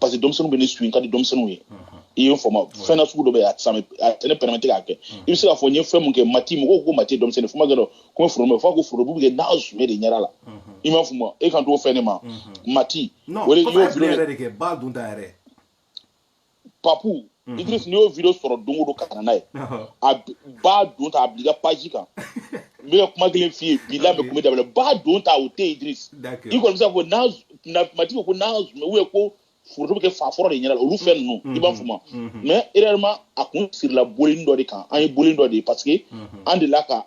Speaker 2: parce que denmisɛnninw bɛ ne suit n ka di denmisɛnninw ye i ye n faamu fɛn na sugu dɔ bɛ yen a tɛ sami a tɛ ne permettre k'a kɛ i bɛ se k'a fɔ n ye fɛn mun kɛ mati mɔgɔw ko mati ye denmisɛnnin fo n ma kɛ dɔ ko n bɛ forobu fo a ko forobu bɛ kɛ n'a zume de ɲɛda la i m'a faamu wa e kan t'o fɛn ne ma
Speaker 1: mati non o de i papu y'o ye
Speaker 2: bilen yɛrɛ
Speaker 1: de kɛ ba dun ta
Speaker 2: yɛrɛ
Speaker 1: papu
Speaker 2: Mhm. Idris n'i y'o video sɔrɔ don o don ka na n'a ye a b'a don ta a bila i ka page kan n bɛ ka kuma kelen f'i ye bi la bɛ kuma daminɛ b'a don ta o tɛ yen Idris i kɔni bɛ se k'a fɔ n'a na mati ko n'a zumɛ ou bien ko foto bɛ kɛ fa foro de ɲɛna olu fɛn ninnu mhm. i m'a faamu wa mhm. mais réellement a kun sirila bɔlini dɔ de kan an ye bɔlini dɔ de ye parce que an delila ka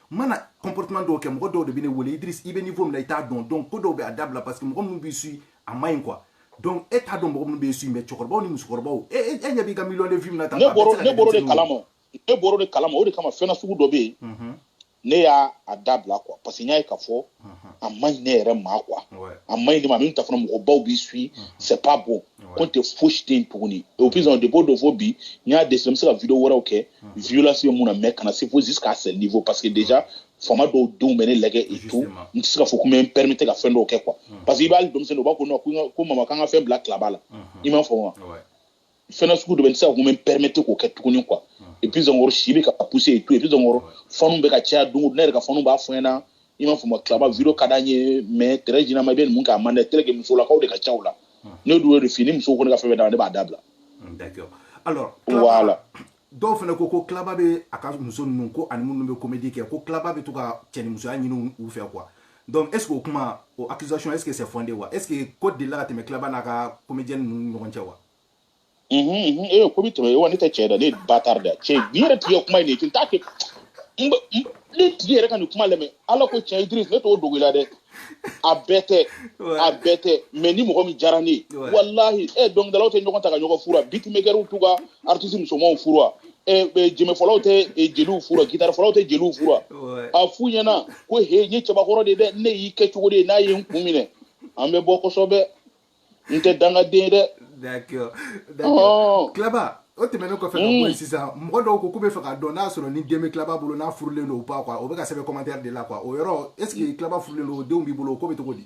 Speaker 1: mana comportement dɔw kɛ mɔgɔ dɔw de bɛ ne wele idris i bɛ niveau min na i t'a dɔn donc ko dɔw bɛ a dabila parce que mɔgɔ minnu b'i suit a man ɲi quoi donc e t'a dɔn mɔgɔ minnu b'i suit mais cɛkɔrɔbaw ni musokɔrɔbaw e e ɲɛ b'i ka million de vues min na tan ne bɔr'o ne bɔr'o de kalama
Speaker 2: ne bɔr'o de kalama o de kama fɛn na sugu dɔ bɛ yen ne y'a a dabila quoi parce que n y'a ye k'a fɔ a man ɲi ne yɛrɛ ma quoi a man ɲi ne ma min ta fana mɔgɔbaw b'i suit c'est pas bon ko tɛ fosi tɛ yen tuguni et puis bon depuis o don fo bi n y'a décidé n bɛ se ka video wɛrɛw kɛ violence bɛ min na mais kana se fo jusqu'à ce niveau parce que déjà fama dɔw denw bɛ ne lajɛ et tout n tɛ se ka fɔ ko n bɛ n permettre ka fɛn dɔw kɛ quoi parce que i b'a hali denmisɛnnin u b'a ko non ko mama k'an ka fɛn bila tilaba la i m'a faamu wa fɛn na sugu dɔ bɛ n tɛ se ka ko n bɛ n permettre k'o kɛ tuguni quoi et puis encore si bɛ ka pousser et tout et puis encore fanw bɛ ka caya don o don ne yɛrɛ ka fanw b'a fɔ n ɲɛna i m'a faamu wa tilaba video ka d'an ye mais très généralement i bɛ ninnu k'a man di tel que musolakaw de ka ca o la ne dun y'o de f'i ye ni musow kɔni ka fɛn bɛ d'a ma ne b'a dabila D'accord.
Speaker 1: Alors, Voilà.
Speaker 2: dɔw fana
Speaker 1: ko ko Klaba bɛ a ka muso ninnu ko ani minnu bɛ comédie kɛ ko Klaba bɛ to ka cɛnimusoya ɲini u fɛ quoi donc est ce que o kuma o accusation est ce que c'est fondé wa est ce que ko delila ka tɛmɛ Klaba n'a ka comédienne ninnu ɲɔgɔn cɛ
Speaker 2: wa ee ko bɛ tɛmɛ wa ne tɛ cɛ da ne ye bâtard de ye cɛ nin yɛrɛ tigi ye kuma in de ye n t'a kɛ ne tigi yɛrɛ ka nin kuma lamɛn ala ko tiɲɛ Idriss ne t'o dogo i la dɛ a bɛɛ tɛ a bɛɛ tɛ mais ni mɔgɔ min diyara ne ye walahi ɛ eh, dɔnkilidalaw tɛ ɲɔgɔn ta ka ɲɔgɔn furu wa beatmakerw t'u ka artiste musomanw furu wa eh, eh, jɛnbɛfɔlaw tɛ jeliw furu wa gitarifɔlaw tɛ jeliw furu wa a f'u ɲɛna ko he n ye cɛbakɔrɔ de ye dɛ ne y'i kɛ cogo de ye n'a ye n kun minɛ an bɛ bɔ kosɛbɛ n tɛ dangaden ye dɛ
Speaker 1: d'accord d'accord Klaba o tɛmɛnen kɔfɛ ka bɔ yen mm. sisan mɔgɔ dɔw ko k'u bɛ fɛ k'a dɔn n'a sɔrɔ ni den bɛ Klaba bolo n'a furulen don ou pas quoi o bɛ ka sɛbɛn commentaire de la quoi o yɔrɔ est ce que mm. Klaba furulen don o denw b'i bolo o ko bɛ cogo di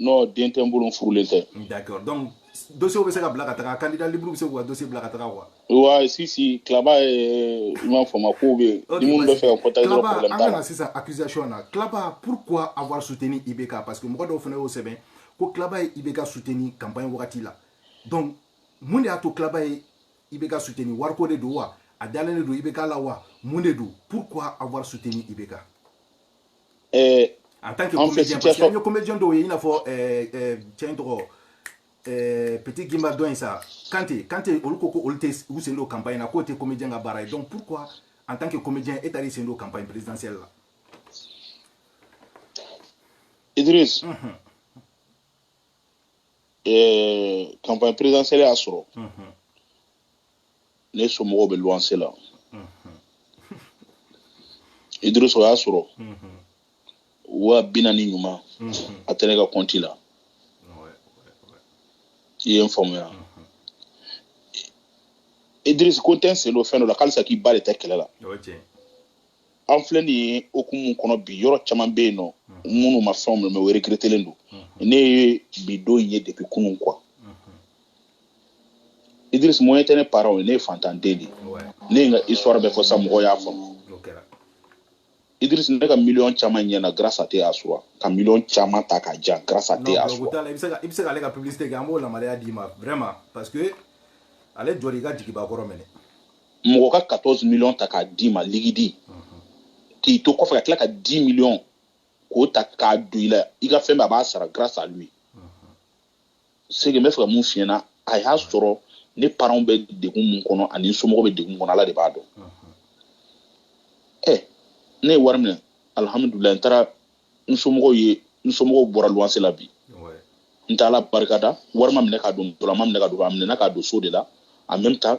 Speaker 2: non den tɛ n bolo n furulen tɛ d'accord donc
Speaker 1: dossier bɛ se ka bila ka taga candidat libre bɛ se k'u ka dossier bila ka taga quoi wa
Speaker 2: sisi Klaba ye i m'a faamu ko bɛ yen ni minnu bɛ fɛ ka contacter dɔrɔn problème t'a la an ka na sisan accusation
Speaker 1: na Klaba pourquoi avoir soutenu IBK parce que mɔgɔ dɔw fana y'o sɛbɛn ko Klaba ye IBK soutenu campagne wagati la donc mun de y'a to Klaba ye IBK soutenu wariko de don wa a dalen de don IBK la wa mun de don pourquoi avoir soutenu IBK eh, en tant que comédien parce que an ye comédien dɔw ye i n'a fɔ eh, eh, cɛ in tɔgɔ Eh, Petit Guimba dɔ in sa Kante Kante olu ko ko olu tɛ u sen don campagne na k'o tɛ comédien ka baara ye donc pourquoi en tant que comédien e taar'i sen don campagne présidentielle la
Speaker 2: Idriss mm -hmm. eh, campagne présidentielle y'a sɔrɔ mm -hmm. ne somɔgɔw bɛ luwanse la mm -hmm. Idriss o y'a sɔrɔ mm -hmm. wa bi naani ɲuman a tɛ ne ka kɔnti la i ye n faamuya Idriss ko n tɛ n sen don fɛn dɔ la k'alisa k'i ba de tɛ kɛlɛ la an filɛ nin ye o hukumu kɔnɔ bi yɔrɔ caman bɛ yen nɔ minnu ma fɛnw minɛ mais o regrettélen don ne ye bi don ye depuis kunun quoi Idriss moyen tɛ ne parentw ye ne ye fantanden de ye ne ye n ka histoire bɛɛ fɔ sa mɔgɔw y'a faamu Idriss ne ka miliyɔn caman ɲɛna grâce à thé Achoura ka miliyɔn caman ta ka jan grâce à thé Achoura. Non, i bɛ se ka i bɛ se k'ale ka
Speaker 1: publicité kɛ an b'o yamaruya d'i ma vraiment parce que ale jɔra i ka jigiba kɔrɔ mɛnɛ. Mɔgɔ ka
Speaker 2: 14 millions ta k'a d'i ma liquide k'i to kɔfɛ ka tila ka 10 millions k'o ta k'a don i la i ka fɛn bɛɛ a b'a sara grâce à lui. c'est que n bɛ fɛ ka mun f'i ɲɛna a y'a sɔrɔ ne parentw bɛ degun min kɔnɔ ani n somɔgɔw bɛ degun min kɔnɔ ala de b'a dɔn ɛ ne ye wari minɛ alihamudulila n taara n somɔgɔw ye n somɔgɔw bɔra luwanse la bi n tɛ ala barika da wari ma minɛ k'a don dɔlɔ la ma minɛ k'a don a minɛna k'a don so de la en même temps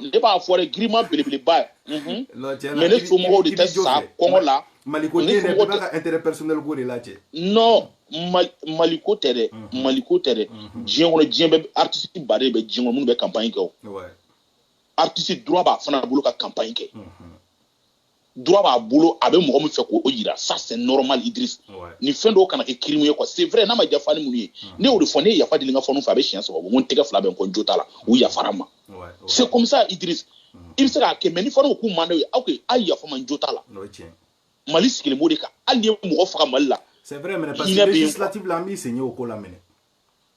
Speaker 2: ne b'a fɔ dɛ giriman belebeleba ye mhm. mais ne somɔgɔw de tɛ sa kɔngɔ la maliko tɛ dɛ bɛɛ b'a
Speaker 1: ka intérêt personnel ko de lajɛ non
Speaker 2: maliko tɛ dɛ mhm. maliko tɛ dɛ mhm. diɲɛ kɔnɔ diɲɛ bɛɛ artiste ba de bɛ diɲɛ kɔnɔ minnu bɛ campagne kɛ o artiste droit b'a fana bolo ka campagne kɛ droit b'a bolo a bɛ mɔgɔ min fɛ k'o yira ça c'est normal Idriss ni fɛn dɔw kana kɛ crime ye quoi c'est vrai n'a ma diya fani minnu ye ne y'o de fɔ ne ye yafa deli n ka faniw fɛ a bɛ siɲɛ saba bɔ n ko n tɛgɛ fila bɛ n kɔ n jo t'a la u yafara n ma c'est comme ça Idriss i bɛ se k'a kɛ mais ni faniw ko k'u man d'aw ye aw ka yafa n ma n jo t'a la Mali sigilen b'o de kan hali n'i ye mɔgɔ faga Mali la c'est vrai mais parce
Speaker 1: que législative la an b'i sen ye o ko la minɛ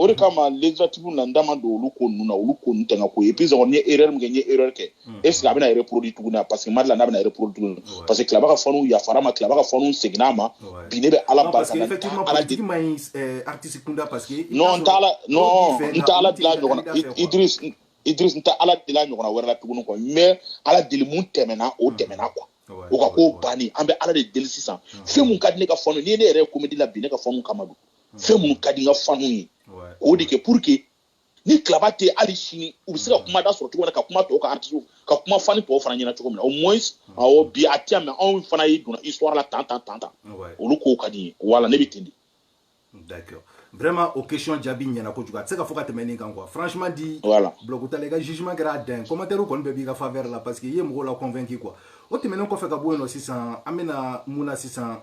Speaker 2: o de kama législative na n da ma don olu ko ninnu na olu ko ninnu tɛŋa ko et puis n ye erreur min kɛ n ye erreur kɛ hmm. est ce que a bɛna reproduit tuguni parce que n ma d'a la n'a bɛna reproduit tuguni parce que Claba ka faniw yafara a ma Claba ka faniw seginna a ma bi ne bɛ ala barika
Speaker 1: da non n
Speaker 2: t'ala non n t'ala deli a ɲɔgɔn na idris idris n tɛ ala deli a ɲɔgɔnna wɛrɛ la tuguni quoi mais ala deli mun tɛmɛna o hmm. tɛmɛna quoi o ka ko banni an bɛ ala de deli sisan fɛn mun ka di ne ka faniw n'i ye ne yɛrɛ ye komedi la bi ne ka faniw kama don fɛn minnu ka di n ka fanu ye o de kɛ pour que ni Claba tɛ hali sini u bɛ se ka mm. kuma da sɔrɔ cogo min na ka kuma tɔw ka artisiw ka kuma fani tɔw fana ɲɛna cogo min na au moins mm. awɔ bi a tɛ yan mais anw fana ye donna histoire la tan tan tan tan olu kow ka di n ye voilà ne bɛ ten de.
Speaker 1: d'accord vraiment o question jaabi ɲɛna kojugu a tɛ se ka fɔ ka tɛmɛ nin kan quoi franchement dit voilà donc Claba i ka jugement kɛra a dan ye commentaire kɔni bɛɛ b'i ka faveur la parce que i ye mɔgɔw la convaincu quoi o tɛmɛnen kɔfɛ ka bɔ yen nɔ sisan an bɛna mun na sisan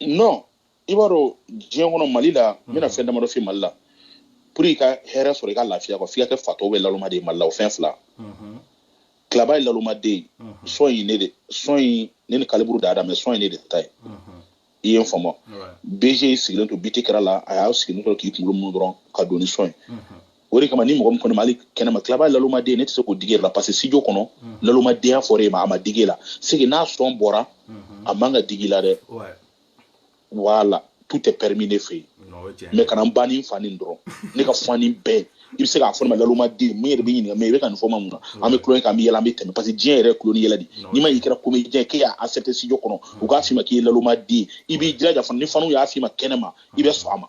Speaker 2: non i b'a dɔn diɲɛ kɔnɔ mali la n bɛna fɛn damadɔ f'i mali la pour i ka hɛrɛ sɔrɔ i ka lafiya quoi f'i ka kɛ fatɔ ou bien lalomaden ye mali la o fɛn fila Claba ye lalomaden son in ne de son in ne ni Calibre da mais son in ne de ta ye i ye n faamu BG sigilen to biti kɛra la a y'a sigilen to k'i kunkolo munu dɔrɔn ka don ni son ye o de kama ni mɔgɔ min ko ne ma hali kɛnɛma Claba lalomaden ne tɛ se k'o digi la parce que studio kɔnɔ mhm. lalomadenya fɔra e ma a ma digi la c'est que n'a son bɔra mhm. a man kan ka digi i la dɛ voilà tout est permis ne fɛ yen mais kana n ba ni n fa neni dɔrɔn ne ka fani bɛɛ i bɛ se k'a fɔ ne ma lalomaden mun yɛrɛ bɛ ɲininka mais i bɛ ka nin fɔ n ma mun na an bɛ tulon kɛ an bɛ yɛlɛ an bɛ tɛmɛ parce que diɲɛ yɛrɛ ye tulon ni yɛlɛ de n'i ma y'i kɛra comédien k'e y'a accepter studio kɔnɔ u k'a f'i ma k'i ye lalomaden i b'i jilaja fana ni faniw y'a f'i ma kɛnɛma i bɛ sɔn a ma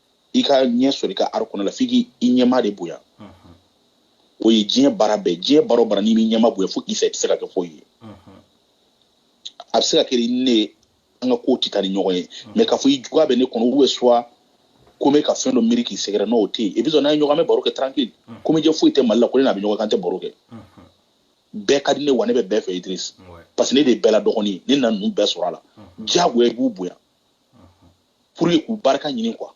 Speaker 2: i ka ɲɛ sɔrɔ i ka art kɔnɔ la f'i k'i ɲɛmaa de bonya o ye diɲɛ baara bɛɛ diɲɛ baara o baara n'i m'i ɲɛmaa bonya fo k'i fɛ i tɛ se ka kɛ foyi ye a bɛ se ka kɛ ni ne ye an ka kow tɛ taa ni ɲɔgɔn ye mais k'a fɔ i juguya bɛ ne kɔnɔ ou soit ko n bɛ ka fɛn dɔ miiri k'i sɛgɛrɛ n'o tɛ yen et puis n'an ye ɲɔgɔn an bɛ baro kɛ tranquille comédien foyi tɛ mali la ko ne n'a bɛ ɲɔgɔn kan an tɛ baro kɛ bɛɛ ka di ne wa ne bɛ bɛɛ fɛ idris parce que ne de ye bɛɛ la dɔgɔnin ye ne nana ninnu bɛɛ sɔrɔ a la diyagoya i b'u bonya pour que k'u barika ɲini quoi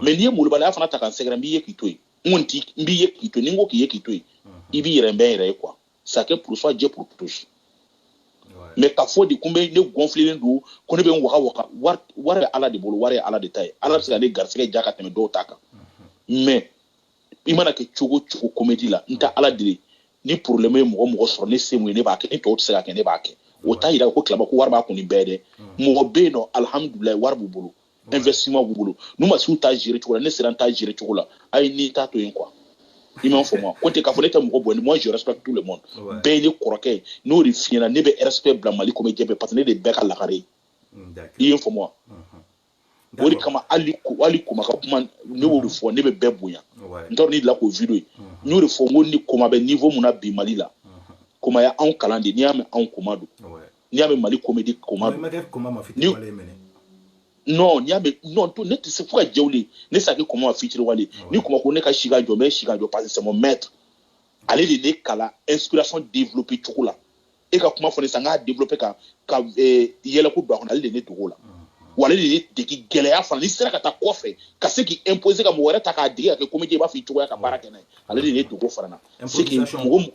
Speaker 2: mais n'i ye molobaliya fana ta ka n sɛgɛrɛ n b'i ye k'i to yen n kɔni ti n b'i ye k'i to yen ni n ko k'i ye k'i to yen i b'i yɛrɛ n bɛ n yɛrɛ ye quoi chacun pour soi Dieu pour tous mais k'a fɔ de ko n bɛ ne gɔnfilelen don ko ne bɛ n waga waga wari wari bɛ ala de bolo wari ye ala de ta ye ala bɛ se ka ne garisigɛ diya ka tɛmɛ dɔw ta kan mais i mana kɛ cogo cogo comédie la n tɛ ala deli ni problème ye mɔgɔ mɔgɔ sɔrɔ ne se mun ye ne b'a kɛ ni tɔw tɛ se k'a kɛ ne b'a kɛ o t'a yira ko klaba ko wari b'a kun nin bɛɛ dɛ mɔgɔ bɛ yen nɔ alihamudulilayi wari b'u bolo investissement b'u bolo n'u ma s'u ta gérer cogo la ne sera n ta gérer cogo la a ye n'i ta to yen quoi i m'a faamu wa ko tɛ k'a fɔ ne tɛ mɔgɔ bonya moi je respecte tout le monde bɛɛ ye ne kɔrɔkɛ ye n'o de fiɲɛna ne bɛ respect bila mali comédien bɛɛ parce que ne de bɛɛ ka lagare ye i ye n faamu wa o de kama hali hali koma ka kuma ne y'o de fɔ ne bɛ bɛɛ bonya n t'a dɔn ni la k'o video ye n y'o de fɔ n ko ni koma bɛ niveau mun na bi mali la koma y'anw kalan de n'i y'a mɛn anw koma don n'i y'a mɛn mali comédie koma don non n'i y'a mɛn non to ne tɛ se fo ka diɲɛ wuli ne tɛ se ka koma ma fitiriwale ni koma ko ne ka si ka jɔ n bɛ si ka jɔ parce que c'est mon maître ale de ne kalan inspiration développer cogo la e ka kuma fɔ ne san k'a développer ka ka eh, yɛlɛko don a kɔnɔ ale de ne degi o la wa ale de ye degi gɛlɛya fana n'i sera ka taa kɔfɛ ka se k'i imposer ka mɔgɔ wɛrɛ ta k'a dege ka kɛ comédie i b'a fɛ cogo la ka baara kɛ n'a ye ale de ye n degi o fana na c'est que Improvisation. mɔgɔ m-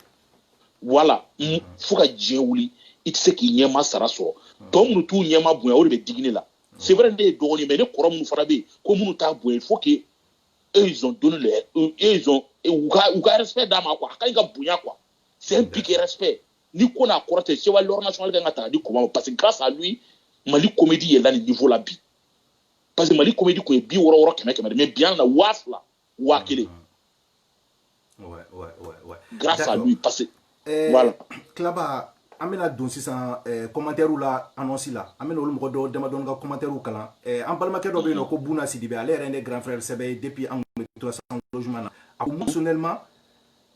Speaker 2: voilà m- fo ka diɲɛ wuli i tɛ se k'i ɲɛmaa sara sɔrɔ donc minnu t'u ɲɛmaa bonya o de bɛ digi ne la c'est vrai ne ye dɔgɔnin ye, mais ne kɔrɔ minnu fana bɛ yen ko minnu t'a bonya il faut que eux ils ont donné le eux ils ont u ka u ka respect d'a ma quoi a ka ɲi ka bonya quoi c'est un pic respect ni ko n'a kɔrɔ tɛ chevalier l'ordre national kan ka taa di koma ma parce que grâce à lui mali comédie yɛlɛla nin niveau la bi parce que mali comédie kun ye bi wɔɔrɔ wɔɔrɔ kɛmɛ kɛmɛ de mais bi an na waa fila waa kelen
Speaker 1: grâce à lui
Speaker 2: parce que eh, voilà
Speaker 1: klaba an bɛna don sisan eh, commentaires la annonce la an bɛna olu mɔgɔ dɔw damadɔni ka commentaires kalan eh, an balimakɛ dɔ bɛ yen nɔ ko buna sidibe ale yɛrɛ ne grand frère sɛbɛ ye depuis an tun bɛ to cent logements na a ko personnellement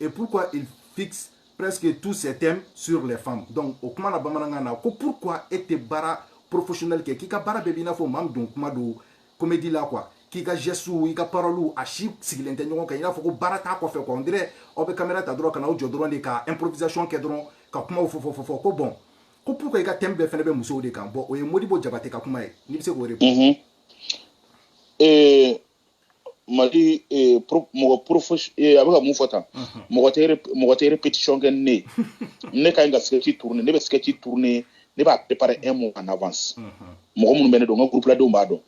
Speaker 1: et pourquoi il fixe presque tous ses thèmes sur les femmes donc o kuma na bamanankan na ko pourquoi e tɛ baara professionnel kɛ k'i ka baara bɛɛ b'i n'a fɔ maa min don kuma don comédie la quoi k'i ka gestew i ka paroliw a si sigilen tɛ ɲɔgɔn kan i n'a fɔ ko baara t'a kɔfɛ quoi on dirait aw bɛ kamera ta dɔrɔn ka n'aw jɔ dɔrɔn de ka improvisation kɛ dɔrɔn ka kumaw fɔ fɔ fɔ fɔ ko bon ko pourquoi i ka thème bɛɛ fɛnɛ bɛ musow de kan bon o ye modibo jabate ka kuma ye n'i bɛ se k'o de
Speaker 2: mali eh, pro- mɔgɔ profes- eh, a bɛ ka mun fɔ tan mɔgɔ tɛ rep- mɔgɔ tɛ répétition kɛ ni ne ye ne ka ɲi ka sketch tourner ne bɛ sketch tourner ne b'a préparer un mois en avance mɔgɔ minnu bɛ ne dɔn n ka groupe la denw b'a dɔn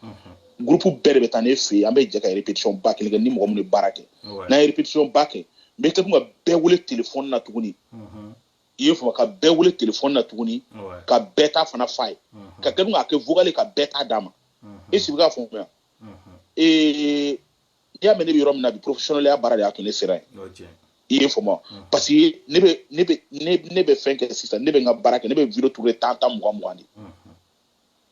Speaker 2: groupe bɛɛ de bɛ taa ne fɛ yen an bɛ jɛ ka répétition ba kelen kɛ ni mɔgɔ minnu bɛ baara kɛ Ouais. n'an ye répétition ba kɛ n bɛ kɛ tun ka bɛɛ wele téléphone na tuguni Mhm. i y'a faamu ka bɛɛ wele téléphone na tuguni Ouais. ka bɛɛ ta fana f'a ye ka kɛ tun k'a kɛ vocal ye ka bɛɛ ta d'a ma Mhm. est-ce i bɛ k'a faamuya ee n'i y'a mɛn ne bɛ yɔrɔ min na bi porofesiyɔnɛliya baara de y'a to ne sera yen i y'a faamu parce que ne bɛ ne bɛ ne bɛ fɛn kɛ sisan ne bɛ n ka baara kɛ ne bɛ video tourner tan tan mugan mugan de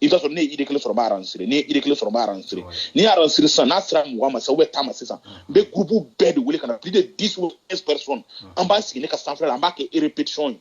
Speaker 2: i bɛ t'a sɔrɔ ne ye idée kelen sɔrɔ n b'a enregistrer ne ye idée kelen sɔrɔ n b'a enregistrer n'i y'a enregistrer sisan n'a sera mugan ma sisan ou bien tan ma sisan n bɛ gurupu bɛɛ de wele ka na plus de dix ou quinze personnes an b'a sigi ne ka sanfɛla la an b'a kɛ répétition ye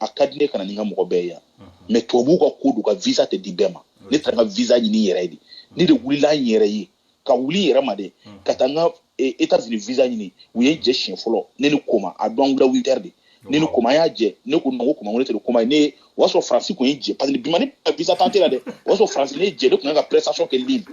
Speaker 2: a ka di ne ka na ni n ka mɔgɔ bɛɛ yan mais tubabuw ka ko don ka visa tɛ di bɛɛ ma ne taara n ka visa ɲini yɛrɛ de ne de wulila n yɛrɛ ye ka wuli yɛrɛ ma de ka taa n ka e, etats unis visa ɲini u ye n jɛ siɲɛ fɔlɔ ne ni koma a dɔn wula huit heures de ne ni koma u y'an jɛ ne ko nɔgɔ koma ne tɛ don koma ye ne o y'a sɔrɔ faransi kun ye n jɛ parce que bi ma ni visa tenter la dɛ o y'a sɔrɔ faransi ye ne jɛ ne kun kan ka prestation kɛ libre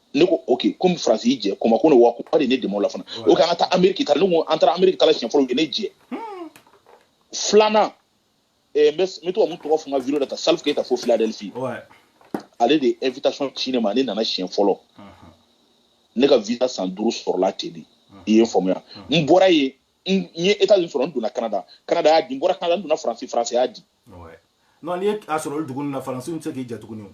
Speaker 2: ne ko ok komi faransi y'i jɛ koma ko ne wa ko de ne dɛmɛ o la fana o k'an ka taa ameriki ta ne ko an taara ameriki ta la siɲɛ fɔlɔ u ye ne jɛ hmm. filanan eh, n bɛ to ka mun tɔgɔ fɔ n ka video la ta salif keyita fo philadelphie
Speaker 1: ale de
Speaker 2: ye invitation ci ne ma ne nana siɲɛ fɔlɔ ne ka visa san duuru sɔrɔla ten de i ye n faamuya n bɔra yen n ye etats unis sɔrɔ n donna canada canada y'a di n bɔra canada n donna faransi faransi y'a di non
Speaker 1: n'i ye a sɔrɔ olu dugu ninnu na faransi tɛ se k'i jɛ tuguni o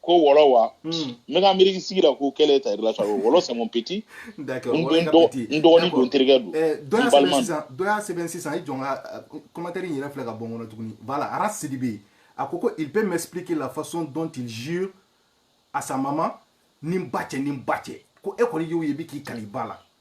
Speaker 1: ko wɔlɔ
Speaker 2: wa hmm. n bɛ ka miiri sigi la ko quelle est ta relation avec wɔlɔ c'est mon
Speaker 1: petit n
Speaker 2: dɔgɔnin don n terikɛ don eh, n balima don dɔ y'a
Speaker 1: sɛbɛn sisan i jɔ n ka euh, commentaire in yɛrɛ filɛ ka bɔ n kɔnɔ tuguni voilà ara sidibe a ko ko il peut m'expliquer la façon dont il jure à sa maman ni n ba cɛ ni n ba cɛ ko e kɔni y'o ye bi k'i kali i ba la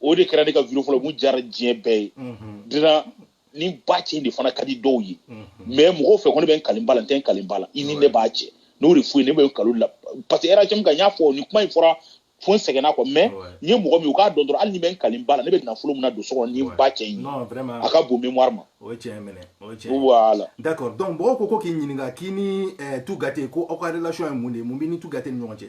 Speaker 2: o de kɛra ne ka video fɔlɔ mun diyara diɲɛ bɛɛ ye dira ni n ba cɛ in de fana ka di dɔw ye mais mɔgɔw fɛ ko ne bɛ n kali n ba la n tɛ n kali n ba la i ni ne ba cɛ n'o de f'u ye ne bɛ n kal'o la parce que RHM kan n y'a fɔ ni kuma in fɔra fo n sɛgɛnna quoi mais n ye mɔgɔ min u k'a dɔn dɔrɔn hali ni n bɛ n kali n ba la ne bɛ nafolo min nadon so kɔnɔ ni n ba cɛ in ye a ka bon mémoire ma o ye tiɲɛ minɛ o
Speaker 1: ye tiɲɛ voilà d'accord
Speaker 2: donc mɔgɔw ko
Speaker 1: ko k'i ɲininka k'i ni eh, Tou Gate ko aw ka relation ye mun de ye mun b'i ni Tou Gate ni ɲɔgɔn cɛ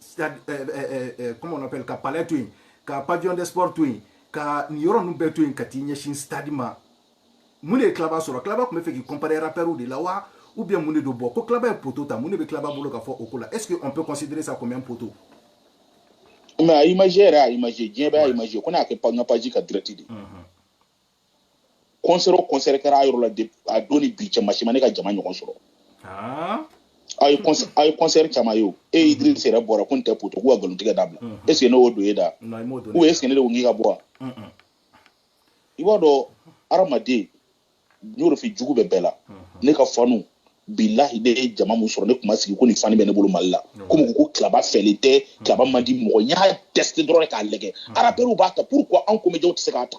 Speaker 1: stade eh, eh, eh, comment on appelle ka palais to yen ka pavillon de sport to yen ka nin yɔrɔ ninnu bɛɛ to yen ka t'i ɲɛsin stade ma mun de ye Claba sɔrɔ Claba tun b'a fɛ k'i comparer rappɛriw de la wa ou bien mun de don bon ko Claba ye poteau ta mun de bɛ Claba bolo ka fɔ o ko la est ce que on peut considérer ça comme un poteau
Speaker 2: mais a image yɛrɛ a image diɲɛ bɛɛ a image ko n y'a kɛ n ka page ka direct de concert o concert kɛra a yɔrɔ la de a don ni bi cɛ maa si ma ne ka jama ɲɔgɔn sɔrɔ Ah. aw ye concert- aw ye concert caman ye o e idris yɛrɛ bɔra ko nin tɛ poto k'u ka nkalontigɛ dabila Mhm. est ce que ne y'o don e da Non, i m'o don ou est ce que ne de ko n k'i ka bɔ wa Mm, mm. i b'a dɔn hadamaden n y'o de f'i ye, jugu bɛ bɛɛ la ne ka fanu bilahi ne ye jama mun sɔrɔ ne tun ma sigi ko nin fani bɛ ne bolo mali la komi u ko ko klaba fɛlen tɛ klaba man di mɔgɔ n y'a tester dɔrɔn de k'a lajɛ rappeurs b'a ta pourquoi anw comédiens tɛ se k'a ta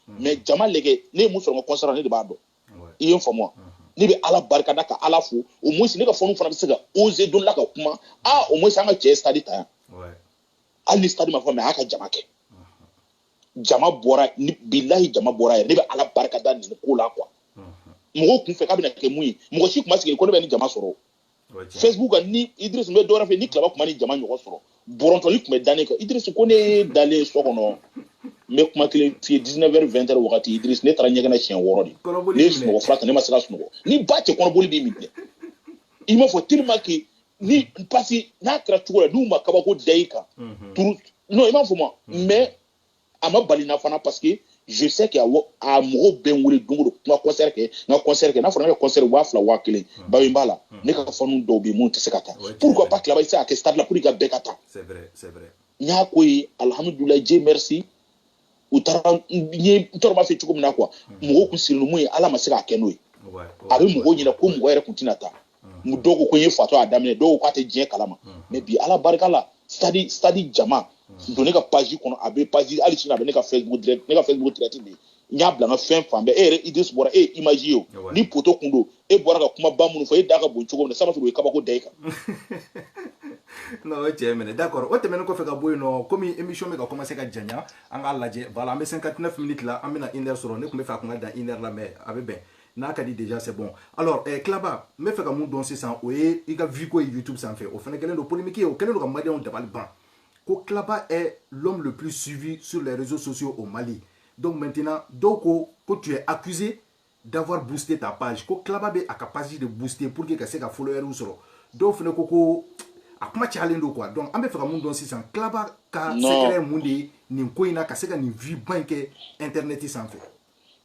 Speaker 2: mais jama lajɛ ne ye mun sɔrɔ n ka concert ne de b'a dɔn i ye n faamu ne bɛ ala barika da ka ala fo au moins ne ka fanu fana bɛ se ka oser don la ka kuma a au moins an ka cɛ stade ta yan hali ni stade ma fa mais a y'a ka jama kɛ jama bɔra bilahi jama bɔra yɛrɛ ne bɛ ala barika da nin ko la quoi mɔgɔw kun fɛ k'a bɛna kɛ mun ye mɔgɔ si kun ma sigi ko ne bɛ ni jama sɔrɔ facebook kan ni idris n bɛ dɔwɛrɛ fɔ ni klaba kun ma ni jama ɲɔgɔn sɔrɔ bɔrɔntɔli kun bɛ da ne kan idris ko ne dalen so kɔnɔ n bɛ kuma kelen f'i ye 19 heures 20 heures wagati idris ne taara ɲɛgɛn na siɲɛ wɔɔrɔ de ne ye sunɔgɔ fura ta ne ma se ka sunɔgɔ ni ba cɛ kɔnɔboli b'i minɛ i m'a fɔ tellement que ni parce que n'a kɛra cogo la n'u ma kabako da i kan turu non i m'a fɔ ma mais a ma bali n na fana parce que je sais que a mɔgɔw bɛ n wele don o don n ka concert kɛ n ka concert kɛ n'a fɔra ne ka concert waa fila waa kelen hmm. bawe n b'a la hmm. ne ka fanu dɔw bɛ yen minnu tɛ se ka taa pourquoi pas klaba i tɛ se ka kɛ stade la pour que ka bɛɛ ka
Speaker 1: taa n y'a ko
Speaker 2: ye alhamdulilayi dieu merci u taara n ye n tɔɔrɔ b'a fɛ cogo min na quoi hmm. mɔgɔw kun sirilen mun ye ala ma se k'a kɛ n'o ye a bɛ mɔgɔw ɲɛna ko mɔgɔ yɛrɛ kun tɛna taa mu dɔw ko ko n ye fatɔ a daminɛ dɔw k'a tɛ diɲɛ kalama mais bi ala barika la stade stade jama don ne ka page kɔnɔ a bɛ page hali sini a bɛ ne ka facebook direct ne ka facebook direct bɛ n y'a bila n ka fɛn fan bɛɛ e yɛrɛ idris bɔra e ye image ye o ni poto kun don e bɔra ka kuma ba minnu fɔ e da ka bon cogo min na sama sɔrɔ o ye kabako da i
Speaker 1: kan non o ye cɛ minɛ d'accord o tɛmɛnen kɔfɛ ka bɔ yen nɔ komi émission bɛ ka commencer ka janya an k'a lajɛ voilà an bɛ 59 minutes la an bɛna une heure sɔrɔ ne tun bɛ fɛ a tun ka dan une heure la mais a bɛ bɛn n'a ka di déjà c'est bon alors eh, klaba n bɛ fɛ ka mun dɔn sisan o ye i ka vue ko ye youtube sanfɛ o fana kɛlen don polémique ye o kɛlen don ka maliyɛnw dabali ban ko klaba est l'homme le plus suivi sur les réseaux sociaux au mali donc maintenant dɔw ko ko tu es accusé d'avoir boosté ta page ko klaba bɛ a ka page de booster pour que ka se ka followeriw sɔrɔ dɔw fana ko ko a kuma cayalen don quoi donc an bɛ fɛ ka mun dɔn sisan klaba ka secret ye mun de ye nin ko in na ka se ka nin vue ba in kɛ internet sanfɛ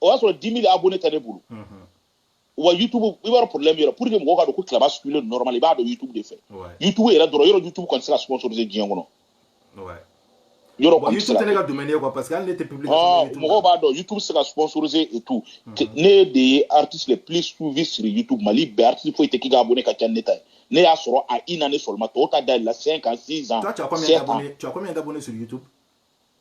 Speaker 1: o y'a
Speaker 2: sɔrɔ 10 000 abonnés tɛ ne bolo wa youtube i b'a dɔn problème yɛrɛ pour que mɔgɔw ka dɔn ko klaba suivilen don normal i b'a dɔn youtube de fɛ youtube yɛrɛ dɔrɔn yɔrɔ youtube kɔni tɛ se ka sponsoriser diɲɛ kɔnɔ yɔrɔ kɔni youtube tɛ ne ka domaine ye quoi
Speaker 1: parce que hali ne tɛ public mɔgɔw b'a dɔn
Speaker 2: youtube tɛ se ka sponsoriser et tout ne de ye artiste le plus suivi sur youtube mali bɛɛ artiste foyi tɛ k'i ka abonné ka ca ne ta ye ne y'a sɔrɔ en une année seulement tɔw ta dayɛlɛla 5 ans 6 ans 7 ans tu as combien d'abonnés sur
Speaker 1: youtube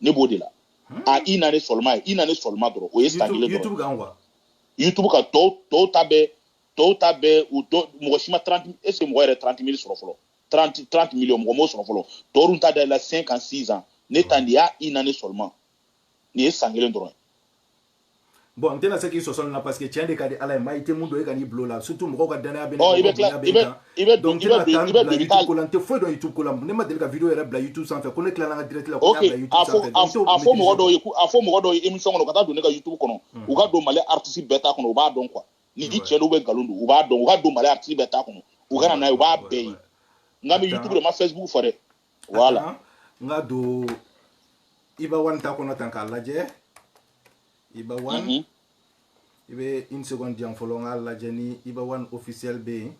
Speaker 2: ne b'o de la hmm? a une année seulement ye une année seulement dɔrɔn o ye san kelen dɔrɔn youtube kan
Speaker 1: quoi youtube kan tɔw
Speaker 2: tɔw ta bɛɛ tɔw ta bɛɛ u dɔ mɔgɔ si ma 30 est ce que mɔgɔ yɛrɛ 30 mille sɔrɔ fɔlɔ 30 30 millions mɔgɔ m'o sɔrɔ fɔlɔ tɔw dun ta da la 5 ans 6 ans ne ta nin ye une année seulement nin ye san kelen dɔrɔn ye
Speaker 1: bon n tɛna se k'i sɔsɔ nin na parce que tiɲɛ de ka di ala ye mais i tɛ min dɔn i kan'i bil'o la surtout mɔgɔw ka danaya bɛ oh, ne kan donc n tɛna taa n bila youtube ko la n tɛ foyi dɔn youtube ko la ne ma deli ka video yɛrɛ bila youtube sanfɛ ko ne tilala n ka direct la ko n y'a bila
Speaker 2: youtube sanfɛ a fɔ mɔgɔ dɔw ye a fɔ mɔgɔ dɔw ye émission kɔnɔ u ka taa don ne ka youtube kɔnɔ hmm. u ka don mali artiste bɛɛ ta kɔnɔ u b'a dɔn quoi ni ji cɛ dɔw bɛ nkalon don u b'a dɔn u ka don mali artiste bɛɛ ta kɔnɔ u ka na n'a ye u b'a bɛɛ ye nka n bɛ youtube de n ma facebook fɔ dɛ voilà n ka
Speaker 1: don Iba One ta kɔnɔ tan k'a lajɛ Iba One mhm. i bɛ une seconde di yan fɔlɔ n k'a lajɛ ni Iba One officiel bɛ yen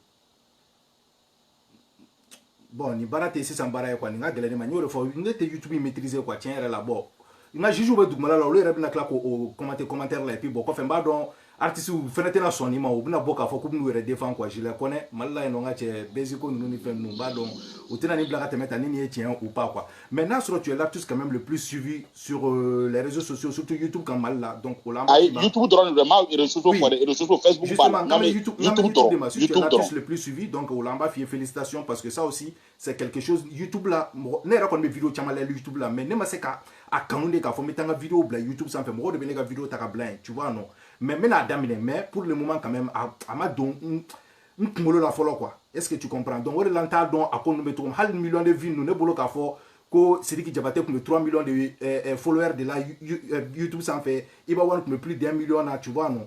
Speaker 1: bon nin baara tɛ sisan baara ye quoi nin ka gɛlɛn ne ma n y'o de fɔ ne tɛ youtube in maîtriser quoi tiɲɛ yɛrɛ la bon n ka jugew bɛ dugumala la olu yɛrɛ bɛna tila k'o commenter commentaire la et puis bon kɔfɛ n b'a dɔn artistew fɛnɛ tɛna sɔn nin ma u bɛna bɔ k'a fɔ k'u bɛn'u yɛrɛ défendre quoi je les connais Mali la yen nɔ n ka cɛ Basiko ninnu ni fɛn ninnu u b'a dɔn u tɛna nin bila ka tɛmɛ tan ni nin ye tiɲɛ ou pas quoi mais n'a sɔrɔ tu es l'artiste quand même le plus suivi sur euh, les réseaux sociaux surtout YouTube kan Mali la donc o la ayi YouTube dɔrɔn de don n
Speaker 2: ma réseaux sociaux fɔ dɛ réseaux
Speaker 1: sociaux Facebook b'a la n bɛ YouTube dɔrɔn YouTube dɔrɔn le plus suivi donc o la an b'a f'i ye félicitations parce que ça aussi c'est quelque chose youtube la mɔgɔ ne yɛrɛ kɔni bɛ video caman lajɛ youtube la mais ne ma se ka a kanu de k'a fɔ n bɛ taa n ka video bila youtube sanfɛ mɔgɔw de bɛ ne ka video ta ka bila yen tu vois non mais n bɛna a daminɛ mais pour le moment quand même a, a ma don n n kunkolo la fɔlɔ quoi est ce que tu comprends donc o de la n t'a dɔn a ko ninnu bɛ cogo min hali million de vues ninnu ne bolo k'a fɔ ko sidiki jabate tun bɛ 3 millions de eh, eh, followers de la eh, youtube sanfɛ Iba One tun bɛ plus d'un million na tu vois non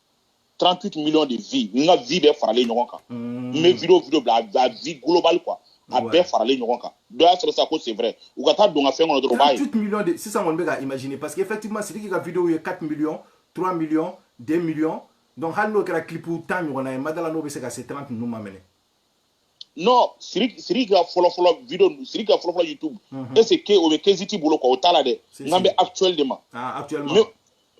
Speaker 2: 38 millions de vues n ka vues bɛɛ faralen ɲɔgɔn kan n bɛ video video bila a vue globale quoi a bɛɛ faralen ɲɔgɔn kan dɔ y'a sɔrɔ sa ko c'est vrai u ka taa don ka fɛn kɔnɔ dɔrɔn u b'a ye 38 millions de
Speaker 1: sisan kɔni bɛ ka imaginer parce que effectivement Sidiki ka video ye 4 millions 3 millions 2 millions donc hali n'o kɛra clip tan ɲɔgɔnna ye madala n'o bɛ se ka se 30 ninnu ma mɛnɛ
Speaker 2: non siri siri ka fɔlɔfɔlɔ video ninnu siri ka fɔlɔfɔlɔ youtube Mhm. est ce que o bɛ Keyzit bolo quoi o t'a la dɛ Si, nka n si. bɛ actuel de ma Ah, actuellement.
Speaker 1: Me-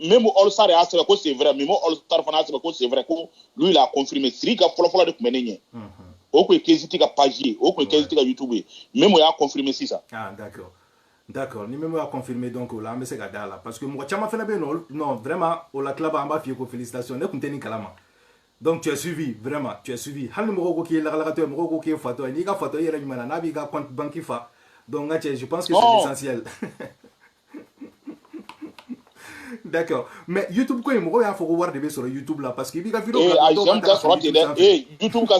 Speaker 1: Memo all
Speaker 2: star y'a sɛbɛn ko c'est vrai Memo all star fana y'a sɛbɛn ko c'est vrai ko lui il a confirmé siri ka fɔlɔfɔlɔ de tun bɛ ne ɲɛ Mhm. o tun ye Keyzit ka page ye o tun ye Keyzit ka youtube ye Memo y'a confirmé sisan Ah,
Speaker 1: d'accord. D'accord. Ni Memo y'a confirmé donc o la an bɛ se ka da a la parce que mɔgɔ caman fana bɛ yen nɔ olu- non vraiment o la tilaba an b'a f'i ye ko félicitations ne tun tɛ nin kalama. donc tu as suivi vraiment tu as suivi hali ni mɔgɔw ko k'i ye lagalagatɔ ye mɔgɔw ko k'i ye fatɔ ye n'i ka fatɔya yɛrɛ ɲuman na n'a b'i ka compte banque fa donc n ka cɛ je pense que c'est oh. l'essentiel d'accord mais youtube ko in mɔgɔw y'a fɔ ko wari de bɛ sɔrɔ youtube la parce que i b'i ka video eh, bila dɔw b'a ta ka fara youtube sanfɛ eh, youtube ka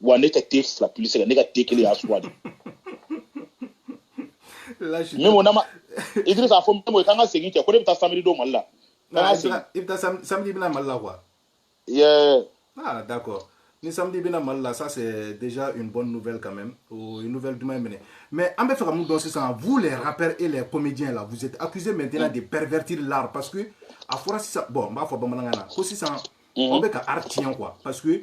Speaker 2: wa ne ka te fila puisque ne ka te kelen y'a suwa de memo nama idrisa a fɔ memo k'an ka segin cɛ ko ne bɛ taa samedi don mali la k'an ka segin i bɛ
Speaker 1: taa samedi bɛ na mali la quoi yeah
Speaker 2: ah d'accord
Speaker 1: ni samedi bɛ na mali la ça c'est déjà une bonne nouvelle quand même ou une nouvelle duman même mais an bɛ fɛ ka mun dɔn sisan vous les rappeurs et les comédiens là vous êtes accusés maintenant mm. de pervertir l'art parce que a fɔra sisan bon n b'a fɔ bamanankan na ko sisan aw bɛ ka art tiɲɛ quoi parce que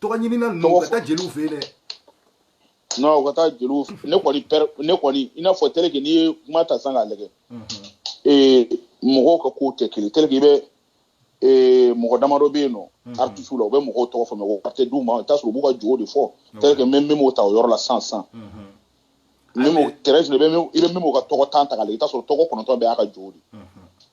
Speaker 1: tɔgɔ
Speaker 2: ɲinina ninnu Tɔgɔ ka fɔ- taa jeliw fɛ yen dɛ non u ka taa jeliw fɛ. ne kɔni pɛrɛ ne kɔni i n'a fɔ tel que n'i ye kuma ta sisan k'a lajɛ ee mɔgɔw ka kow tɛ kelen tel que i bɛ ee mɔgɔ damadɔ bɛ yen nɔ artisiw la u bɛ mɔgɔw tɔgɔ fɔ mais o wari tɛ d'u ma i bɛ t'a sɔrɔ u b'u ka jogo de fɔ tel que n bɛ memo ta o yɔrɔ la sisan sisan memo tɛrɛsi i bɛ min i bɛ memo ka tɔgɔ tan ta k'a lajɛ i bɛ t'a sɔrɔ tɔgɔ kɔnɔntɔn bɛɛ y'a ka jogo de ye.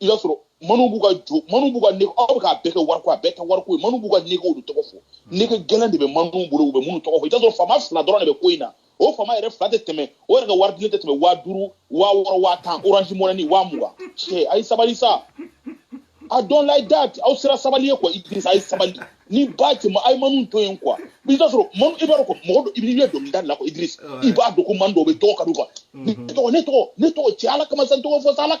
Speaker 2: i b'a sɔrɔ manu b'u ka jo manu b'u ka nege aw bɛ k'a bɛɛ kɛ wariko a bɛɛ tɛ wariko ye manu b'u ka negew de tɔgɔ fɔ hmm. nege gɛlɛn de bɛ manu bolo u bɛ minnu tɔgɔ fɔ i b'a sɔrɔ faama fila dɔrɔn de bɛ ko in na o faama yɛrɛ fila tɛ tɛmɛ o yɛrɛ ka wari dilen tɛ tɛmɛ waa duuru waa wɔɔrɔ waa tan orange money waa mugan cɛ a ye sabali sa I don't like that aw sera sabali ye quoi idirisa a ye sabali ni ba cɛ ma a ye manu to yen quoi i t'a sɔrɔ manu i b'a dɔn ko mɔgɔ dɔ i bɛ dɔnkilida la quoi idirisa i b'a dɔn ko manu dɔw bɛ tɔgɔ ka di quoi ne tɔgɔ ne tɔgɔ ne tɔgɔ cɛ ala kama sa n tɔgɔ fɔ sa ala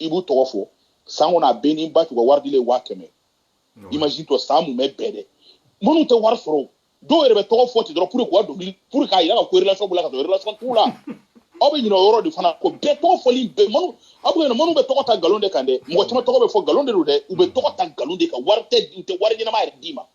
Speaker 2: i b'u tɔgɔ fɔ san kɔnɔ a bɛɛ n'i b'a t'u ka wari dilen waa kɛmɛ imagine toi san mumɛ bɛɛ dɛ manu tɛ wari sɔrɔ dɔw yɛrɛ bɛ tɔgɔ fɔ ten dɔrɔn pour que k'a dɔnkili pour k'a yira ka ko relation b'u la ka sɔrɔ relation t'u la aw bɛ ɲinɛ o yɔrɔ de fana kɔ bɛɛ tɔgɔ fɔli bɛɛ manu aw bɛ ɲinɛ manu bɛ tɔgɔ ta nkalon de kan dɛ mɔgɔ caman tɔgɔ bɛ fɔ nkalon de don dɛ u bɛ tɔgɔ ta nkalon de kan wari tɛ u tɛ wari ɲɛnama yɛrɛ d'i ma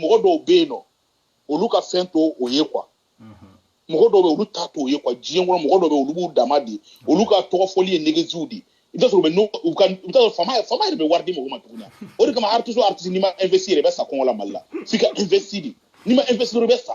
Speaker 2: mɔgɔ dɔw bɛ yen nɔ olu ka fɛn to o ye quoi mɔgɔ dɔw bɛ olu ta to o ye quoi diɲɛ kɔnɔ mɔgɔ dɔw bɛ olu b'u dama di olu ka tɔgɔ fɔli ye negeziw di i bɛ sɔrɔ bɛ n'u u ka i bɛ sɔrɔ faama faama yɛrɛ bɛ wari di mɔgɔ ma tuguni o de kama artiste artiste n'i ma investi yɛrɛ i bɛ sa kɔngɔ la mali la f'i ka investi de n'i ma investi dɔrɔn i bɛ sa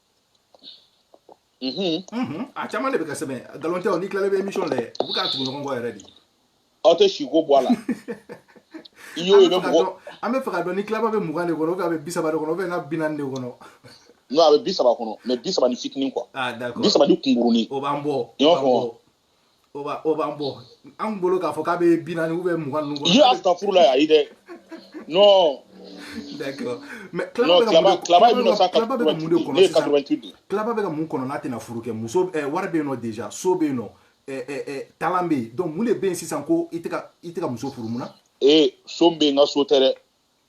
Speaker 1: a caman de bɛ ka sɛbɛn nkalon tɛ o ni tilalen bɛ émission la dɛ u bɛ k'a tugu ɲɔgɔn kɔ yɛrɛ de aw tɛ si
Speaker 2: ko bɔ a la i y'o ye bɛ mɔgɔ an bɛ fɛ ka dɔn
Speaker 1: ni claba bɛ mugan de kɔnɔ ou bien a bɛ bi saba de kɔnɔ ou bien n'a bi naani de kɔnɔ non a bɛ bi
Speaker 2: saba kɔnɔ mais bi saba ni fitinin quoi ah d'accord bi saba ni
Speaker 1: kunkurunin o
Speaker 2: b'an bɔ i b'a fɔ o b'a
Speaker 1: o b'an bɔ an bolo k'a fɔ k'a bɛ bi naani ou bien mugan ninnu kɔnɔ. y'a ta furu la ayi
Speaker 2: dɛ non.
Speaker 1: d'accord mais
Speaker 2: claba bɛ ka mun de claba bɛ ka mun de kɔnɔ sisan claba bɛ ka mun kɔnɔ
Speaker 1: n'a tɛna furu kɛ muso ɛɛ wari bɛ yen nɔ déjà so bɛ yen nɔ ɛɛ ɛɛ talent bɛ yen donc mun de bɛ yen sisan ko i tɛ ka i tɛ ka muso furu mun na. ee so bɛ yen
Speaker 2: n ka so tɛ dɛ.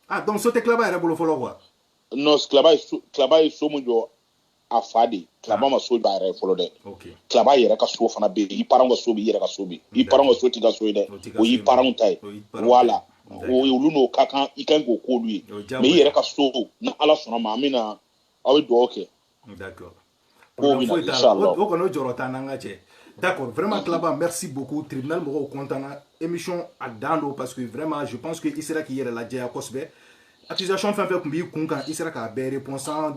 Speaker 2: ah donc so tɛ claba yɛrɛ bolo
Speaker 1: fɔlɔ quoi. non claba ye
Speaker 2: so claba ye so mun jɔ a fa de Klaba ma so jɔ a yɛrɛ fɔlɔ dɛ Klaba yɛrɛ ka so fana bɛ yen i parents ka so bɛ yen i yɛrɛ ka so bɛ yen i parents ka so t'i ka so ye dɛ o y'i parents ta ye voilà o ye olu n'o ka kan i kan k'o k'olu ye mais i yɛrɛ ka so ni ala sɔnna ma an bɛna aw bɛ dugawu kɛ
Speaker 1: k'o
Speaker 2: bɛna inshallah o kɔni o jɔrɔ t'an na
Speaker 1: n ka cɛ D'accord, vraiment Klaba, merci beaucoup. Tribunal mɔgɔw content na. Émission a dan don parce que vraiment je pense que i sera k'i yɛrɛ lajɛya kosɛbɛ. Accusation fɛn fɛn tun b'i kun kan i sera k'a bɛɛ répondre sans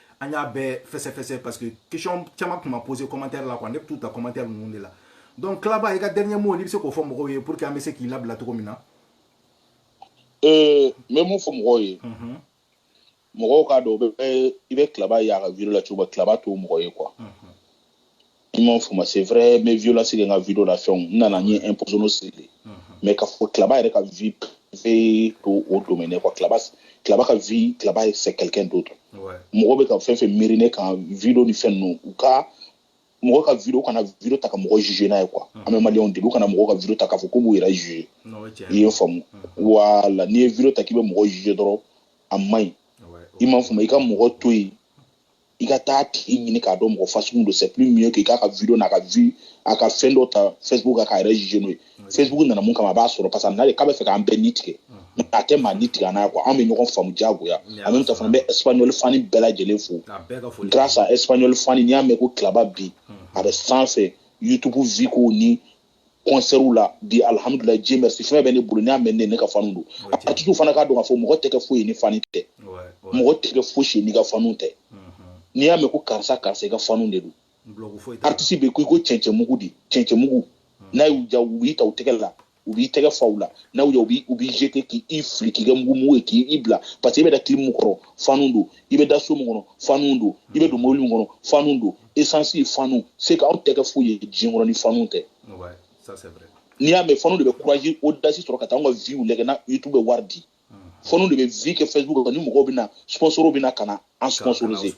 Speaker 1: an y'a bɛɛ fɛsɛfɛsɛ parce que question caman tun ma posé commentaire la quoi ne bɛ t'u ta commentaire ninnu de la donc Klaba i ka dernier mot n'i bɛ se k'o fɔ mɔgɔw ye pour que an bɛ se k'i labila cogo min na.
Speaker 2: ee n bɛ mun fɔ mɔgɔw ye. mɔgɔw k'a dɔn i bɛ Klaba ye a ka video la cogo min Klaba t'o mɔgɔ ye quoi. i m'a fɔ ma c'est vrai n bɛ violence kɛ n ka video la fɛnw n nana n ye imposer n'o siri mais k'a fɔ Klaba yɛrɛ ka vie privée t'o domaine quoi Klaba Klaba ka vie Klaba ye c'est quelqu'un d'autre mɔgɔ bɛ ka fɛn fɛn miiri ne kan video ni fɛn ninnu u ka mɔgɔ ka video kana video ta ka mɔgɔ juger n'a ye quoi an bɛ maliyɛnw deli u kana mɔgɔ ka video ta k'a fɔ k'u b'u yɛrɛ juger i ye n faamu voilà n'i ye video ta k'i bɛ mɔgɔ juger dɔrɔn a man ɲi i m'a faamu i ka mɔgɔ to yen i ka taa tigi ɲini k'a dɔn mɔgɔ fasugu don c'est plus mieux k'i k'a ka video n'a ka vue a ka fɛn dɔ ta facebook kan k'a yɛrɛ juger n'o ye facebook nana mun kama a b'a sɔrɔ parce que a nana de k'a bɛ fɛ k'an bɛɛ ni tigɛ mais a tɛ maa ni tigɛ an n'a quoi anw bɛ ɲɔgɔn faamu diyagoya en même temps fana n bɛ espagnol fani bɛɛ lajɛlen fo grâce à espagnol fani n'i y'a mɛn ko Klaba bi a bɛ sanfɛ youtube vue ko ni kɔnsɛriw la bi alihamudulayi Dieu merci fɛn bɛ ne bolo n'i y'a mɛn ne ne ka fanu don aritisiw fana k'a dɔn k'a fɔ mɔgɔ tɛ kɛ foyi ye ni fanu tɛ mɔgɔ tɛ kɛ fosi ye n'i ka fanu tɛ n'i y'a mɛn ko karisa karisa i ka fanu de don aritisi bɛ ko i ko cɛncɛnmugu de cɛncɛnmugu n'a y'u diya u b'i ta u tɛgɛ la u b'i tɛgɛ fa u la n'a y'u diya u b'i jeter k'i fili k'i kɛ mugu mugu ye k'i bila parce que i bɛ da clim min kɔrɔ fanu don i bɛ da so min kɔnɔ fanu don i bɛ don mobili min kɔnɔ fanu don esansi ye fanu c'est que anw tɛ kɛ foyi ye diɲɛ kɔnɔ ni fanu tɛ n'i y'a mɛn fanu de bɛ courage audace sɔrɔ ka taa an ka viw lajɛ na youtube bɛ wari di fanu de bɛ vue kɛ facebook kan ni mɔgɔw bɛ na sponsor bɛ na ka na an sponsoriser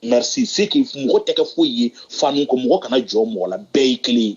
Speaker 2: merci c'est que mɔgɔ tɛ kɛ foyi ye fanu kɔ mɔgɔ kana jɔn mɔgɔ la bɛɛ ye kelen ye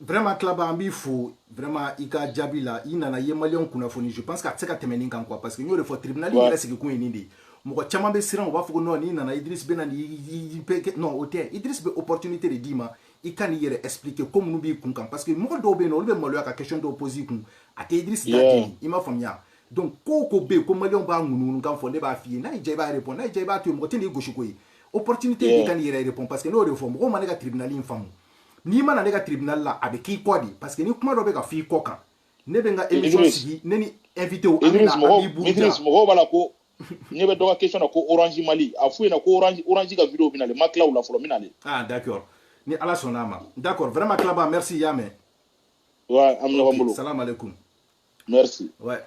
Speaker 2: vraiment
Speaker 1: Klaba an b'i fo vraiment i ka jaabi la i nana i ye maliyɛnw kunnafoni je pense que a tɛ se ka tɛmɛ nin kan quoi parce que n y'o de fɔ tribunal yɛrɛ sigikun ye nin de ye mɔgɔ caman bɛ siran u b'a fɔ ko non n'i nana idris bɛ na ni non o tɛ idris bɛ opportunité de d'i ma i ka n'i yɛrɛ expliquer ko minnu b'i kun kan parce que mɔgɔ dɔw bɛ yen nɔ olu bɛ maloya ka question dɔw poser i kun a tɛ idris ta ten i m'a faamuya donc ko o ko bɛ yen ko maliyɛnw b'a ŋunuŋunukan fɔ ne b'a f'i ye n'a y'i diya i b'a répondre n'a y'i diya i b'a to yen mɔgɔ tɛ n'i gosi k'o ye opportunité de i ka n'i yɛrɛ répondre parce que n y'o de fɔ mɔgɔw ma ne ka tribunal in faamu n'i ma na ne ka tribunal la a bɛ k'i kɔ de parce que ni kuma dɔ bɛ ka f'i kɔ kan ne bɛ n ka émission sigi ne ni invité an bɛ na an b'i buruja Idriss mɔgɔw b'a la ko
Speaker 2: ne bɛ dɔ ka question na ko orange mali a f'u ɲɛna ko orange orange ka video bɛna le ma tila u la fɔlɔ n bɛna le ah
Speaker 1: d'accord ni ala sɔnna a ma d'accord vraiment Klaba merci y'a mɛn ouais
Speaker 2: an bɛ ɲɔgɔn bolo salam alaikum Merci.
Speaker 1: Ouais.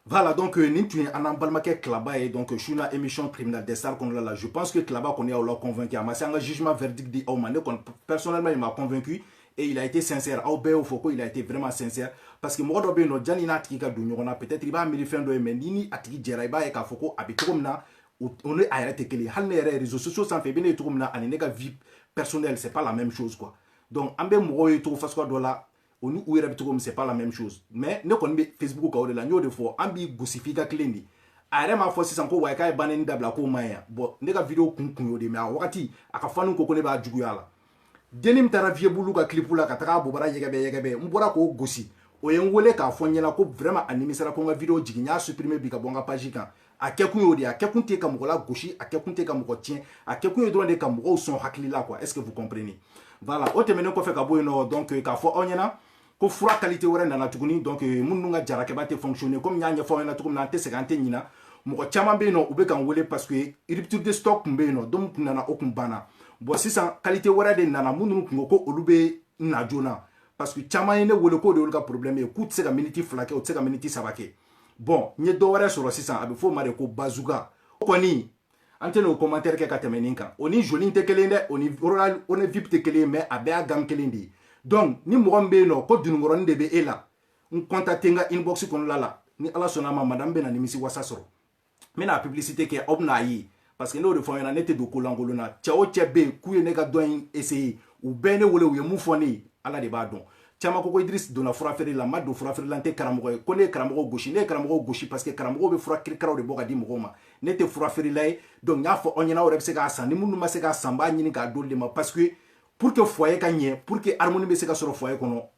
Speaker 1: Voilà, donc euh, nin tun ye an n'an balimakɛ Klaba ye donc su na émission tribunal des stars kɔnɔna la je pense que Klaba kɔni y'aw la convaincu a ma se an ka jugement verdict di aw ma ne kɔni personnellement il m'a convaincu et il a été sincère aw bɛɛ y'o fɔ ko il a été vraiment sincère parce que mɔgɔ dɔ bɛ yen nɔ janni i n'a tigi ka don ɲɔgɔn na peut-être i b'a miiri fɛn dɔ ye mais n'i ni a tigi jɛra i b'a ye k'a fɔ ko a bɛ cogo min na o ni a yɛrɛ tɛ kelen ye hali ne yɛrɛ réseaux sociaux sanfɛ i bɛ ne ye cogo min na ani ne ka vie personnelle c'est pas la même chose quoi donc an bɛ mɔgɔw ye cogo fasuguya dɔ la o ni u yɛrɛ bɛ cogo min c'est pas la même chose mais ne kɔni bɛ facebook kan o de la n y'o de fɔ an b'i gosi f'i ka tilen de a yɛrɛ m'a fɔ sisan ko wayi k'a ye banni dabila k'o man ɲi yan bon ne ka video kun kun y'o de mais a wagati a ka fanw ko ko ne b'a juguya la denni min taara Viebou Loup ka clip la ka taga a bobara yɛgɛbɛ yɛgɛbɛ n bɔra k'o gosi o ye n wele k'a fɔ n ɲɛna ko vraiment a nimisara ko n ka video jigin n y'a supprimer bi ka bɔ n ka page kan a kɛkun y'o de ye a kɛkun tɛ ka mɔgɔ lagosi a kɛkun tɛ ka mɔgɔ tiɲɛ a kɛkun ye dɔrɔn de ka mɔgɔw sɔn hakili la quoi est ce que vous comprenez voilà o tɛmɛnen kɔfɛ ka bɔ yen nɔ donc k'a fɔ aw ɲɛna ko fura qualité wɛrɛ nana tuguni donc minnu ka jarakɛba tɛ fonctionner comme n y'a ɲɛfɔ aw ɲɛna cogo min na an tɛ sɛgɛn an tɛ ɲina mɔgɔ caman bɛ yen nɔ u bɛ k'an wele parce que rupture de stock tun bɛ yen nɔ dɔ tun nana o tun banna bon sisan qualité wɛrɛ de nana minnu tun ko ko olu bɛ na joona parce que caman ye ne wele k'o de y'olu ka problème ye k'u tɛ se ka miniti fila kɛ u tɛ se ka miniti saba kɛ bon n ye dɔ wɛrɛ sɔrɔ sisan a bɛ f'o ma de ko bazuka o kɔni an tɛna o commentaire kɛ ka tɛmɛ nin kan o ni joli tɛ kelen dɛ o ni royal honey vip tɛ kelen mais a bɛɛ y'a gamme kelen de ye donc ni mɔgɔ min bɛ yen nɔ ko dununkɔrɔnin de bɛ e la n contacter n ka inbox kɔnɔna la ni ala sɔnna a ma madame bɛna nimisi wasa sɔrɔ n bɛna publicité kɛ aw bɛna a ye parce que n y'o de fɔ ɲɛna ne tɛ don ko lankolon na cɛ o cɛ bɛ yen k'u ye ne ka dɔn in essayer u bɛɛ ye ne wele u ye mun fɔ ne ye ala de b'a dɔn caman ko ko Idriss donna furafeere la n ma don furafeere la n tɛ karamɔgɔ ye ko ne ye karamɔgɔ gosi ne ye karamɔgɔ gosi parce que karamɔgɔw bɛ fura kirikaraw de bɔ ka di mɔgɔw ma ne tɛ furafeerela ye donc n y'a fɔ aw ɲɛna aw yɛrɛ bɛ se k'a san ni minnu ma se k'a san n b'a ɲini k'a d'olu de ma parce que pour que foyer ka ɲɛ pour que harmonie bɛ se ka sɔrɔ foyer kɔnɔ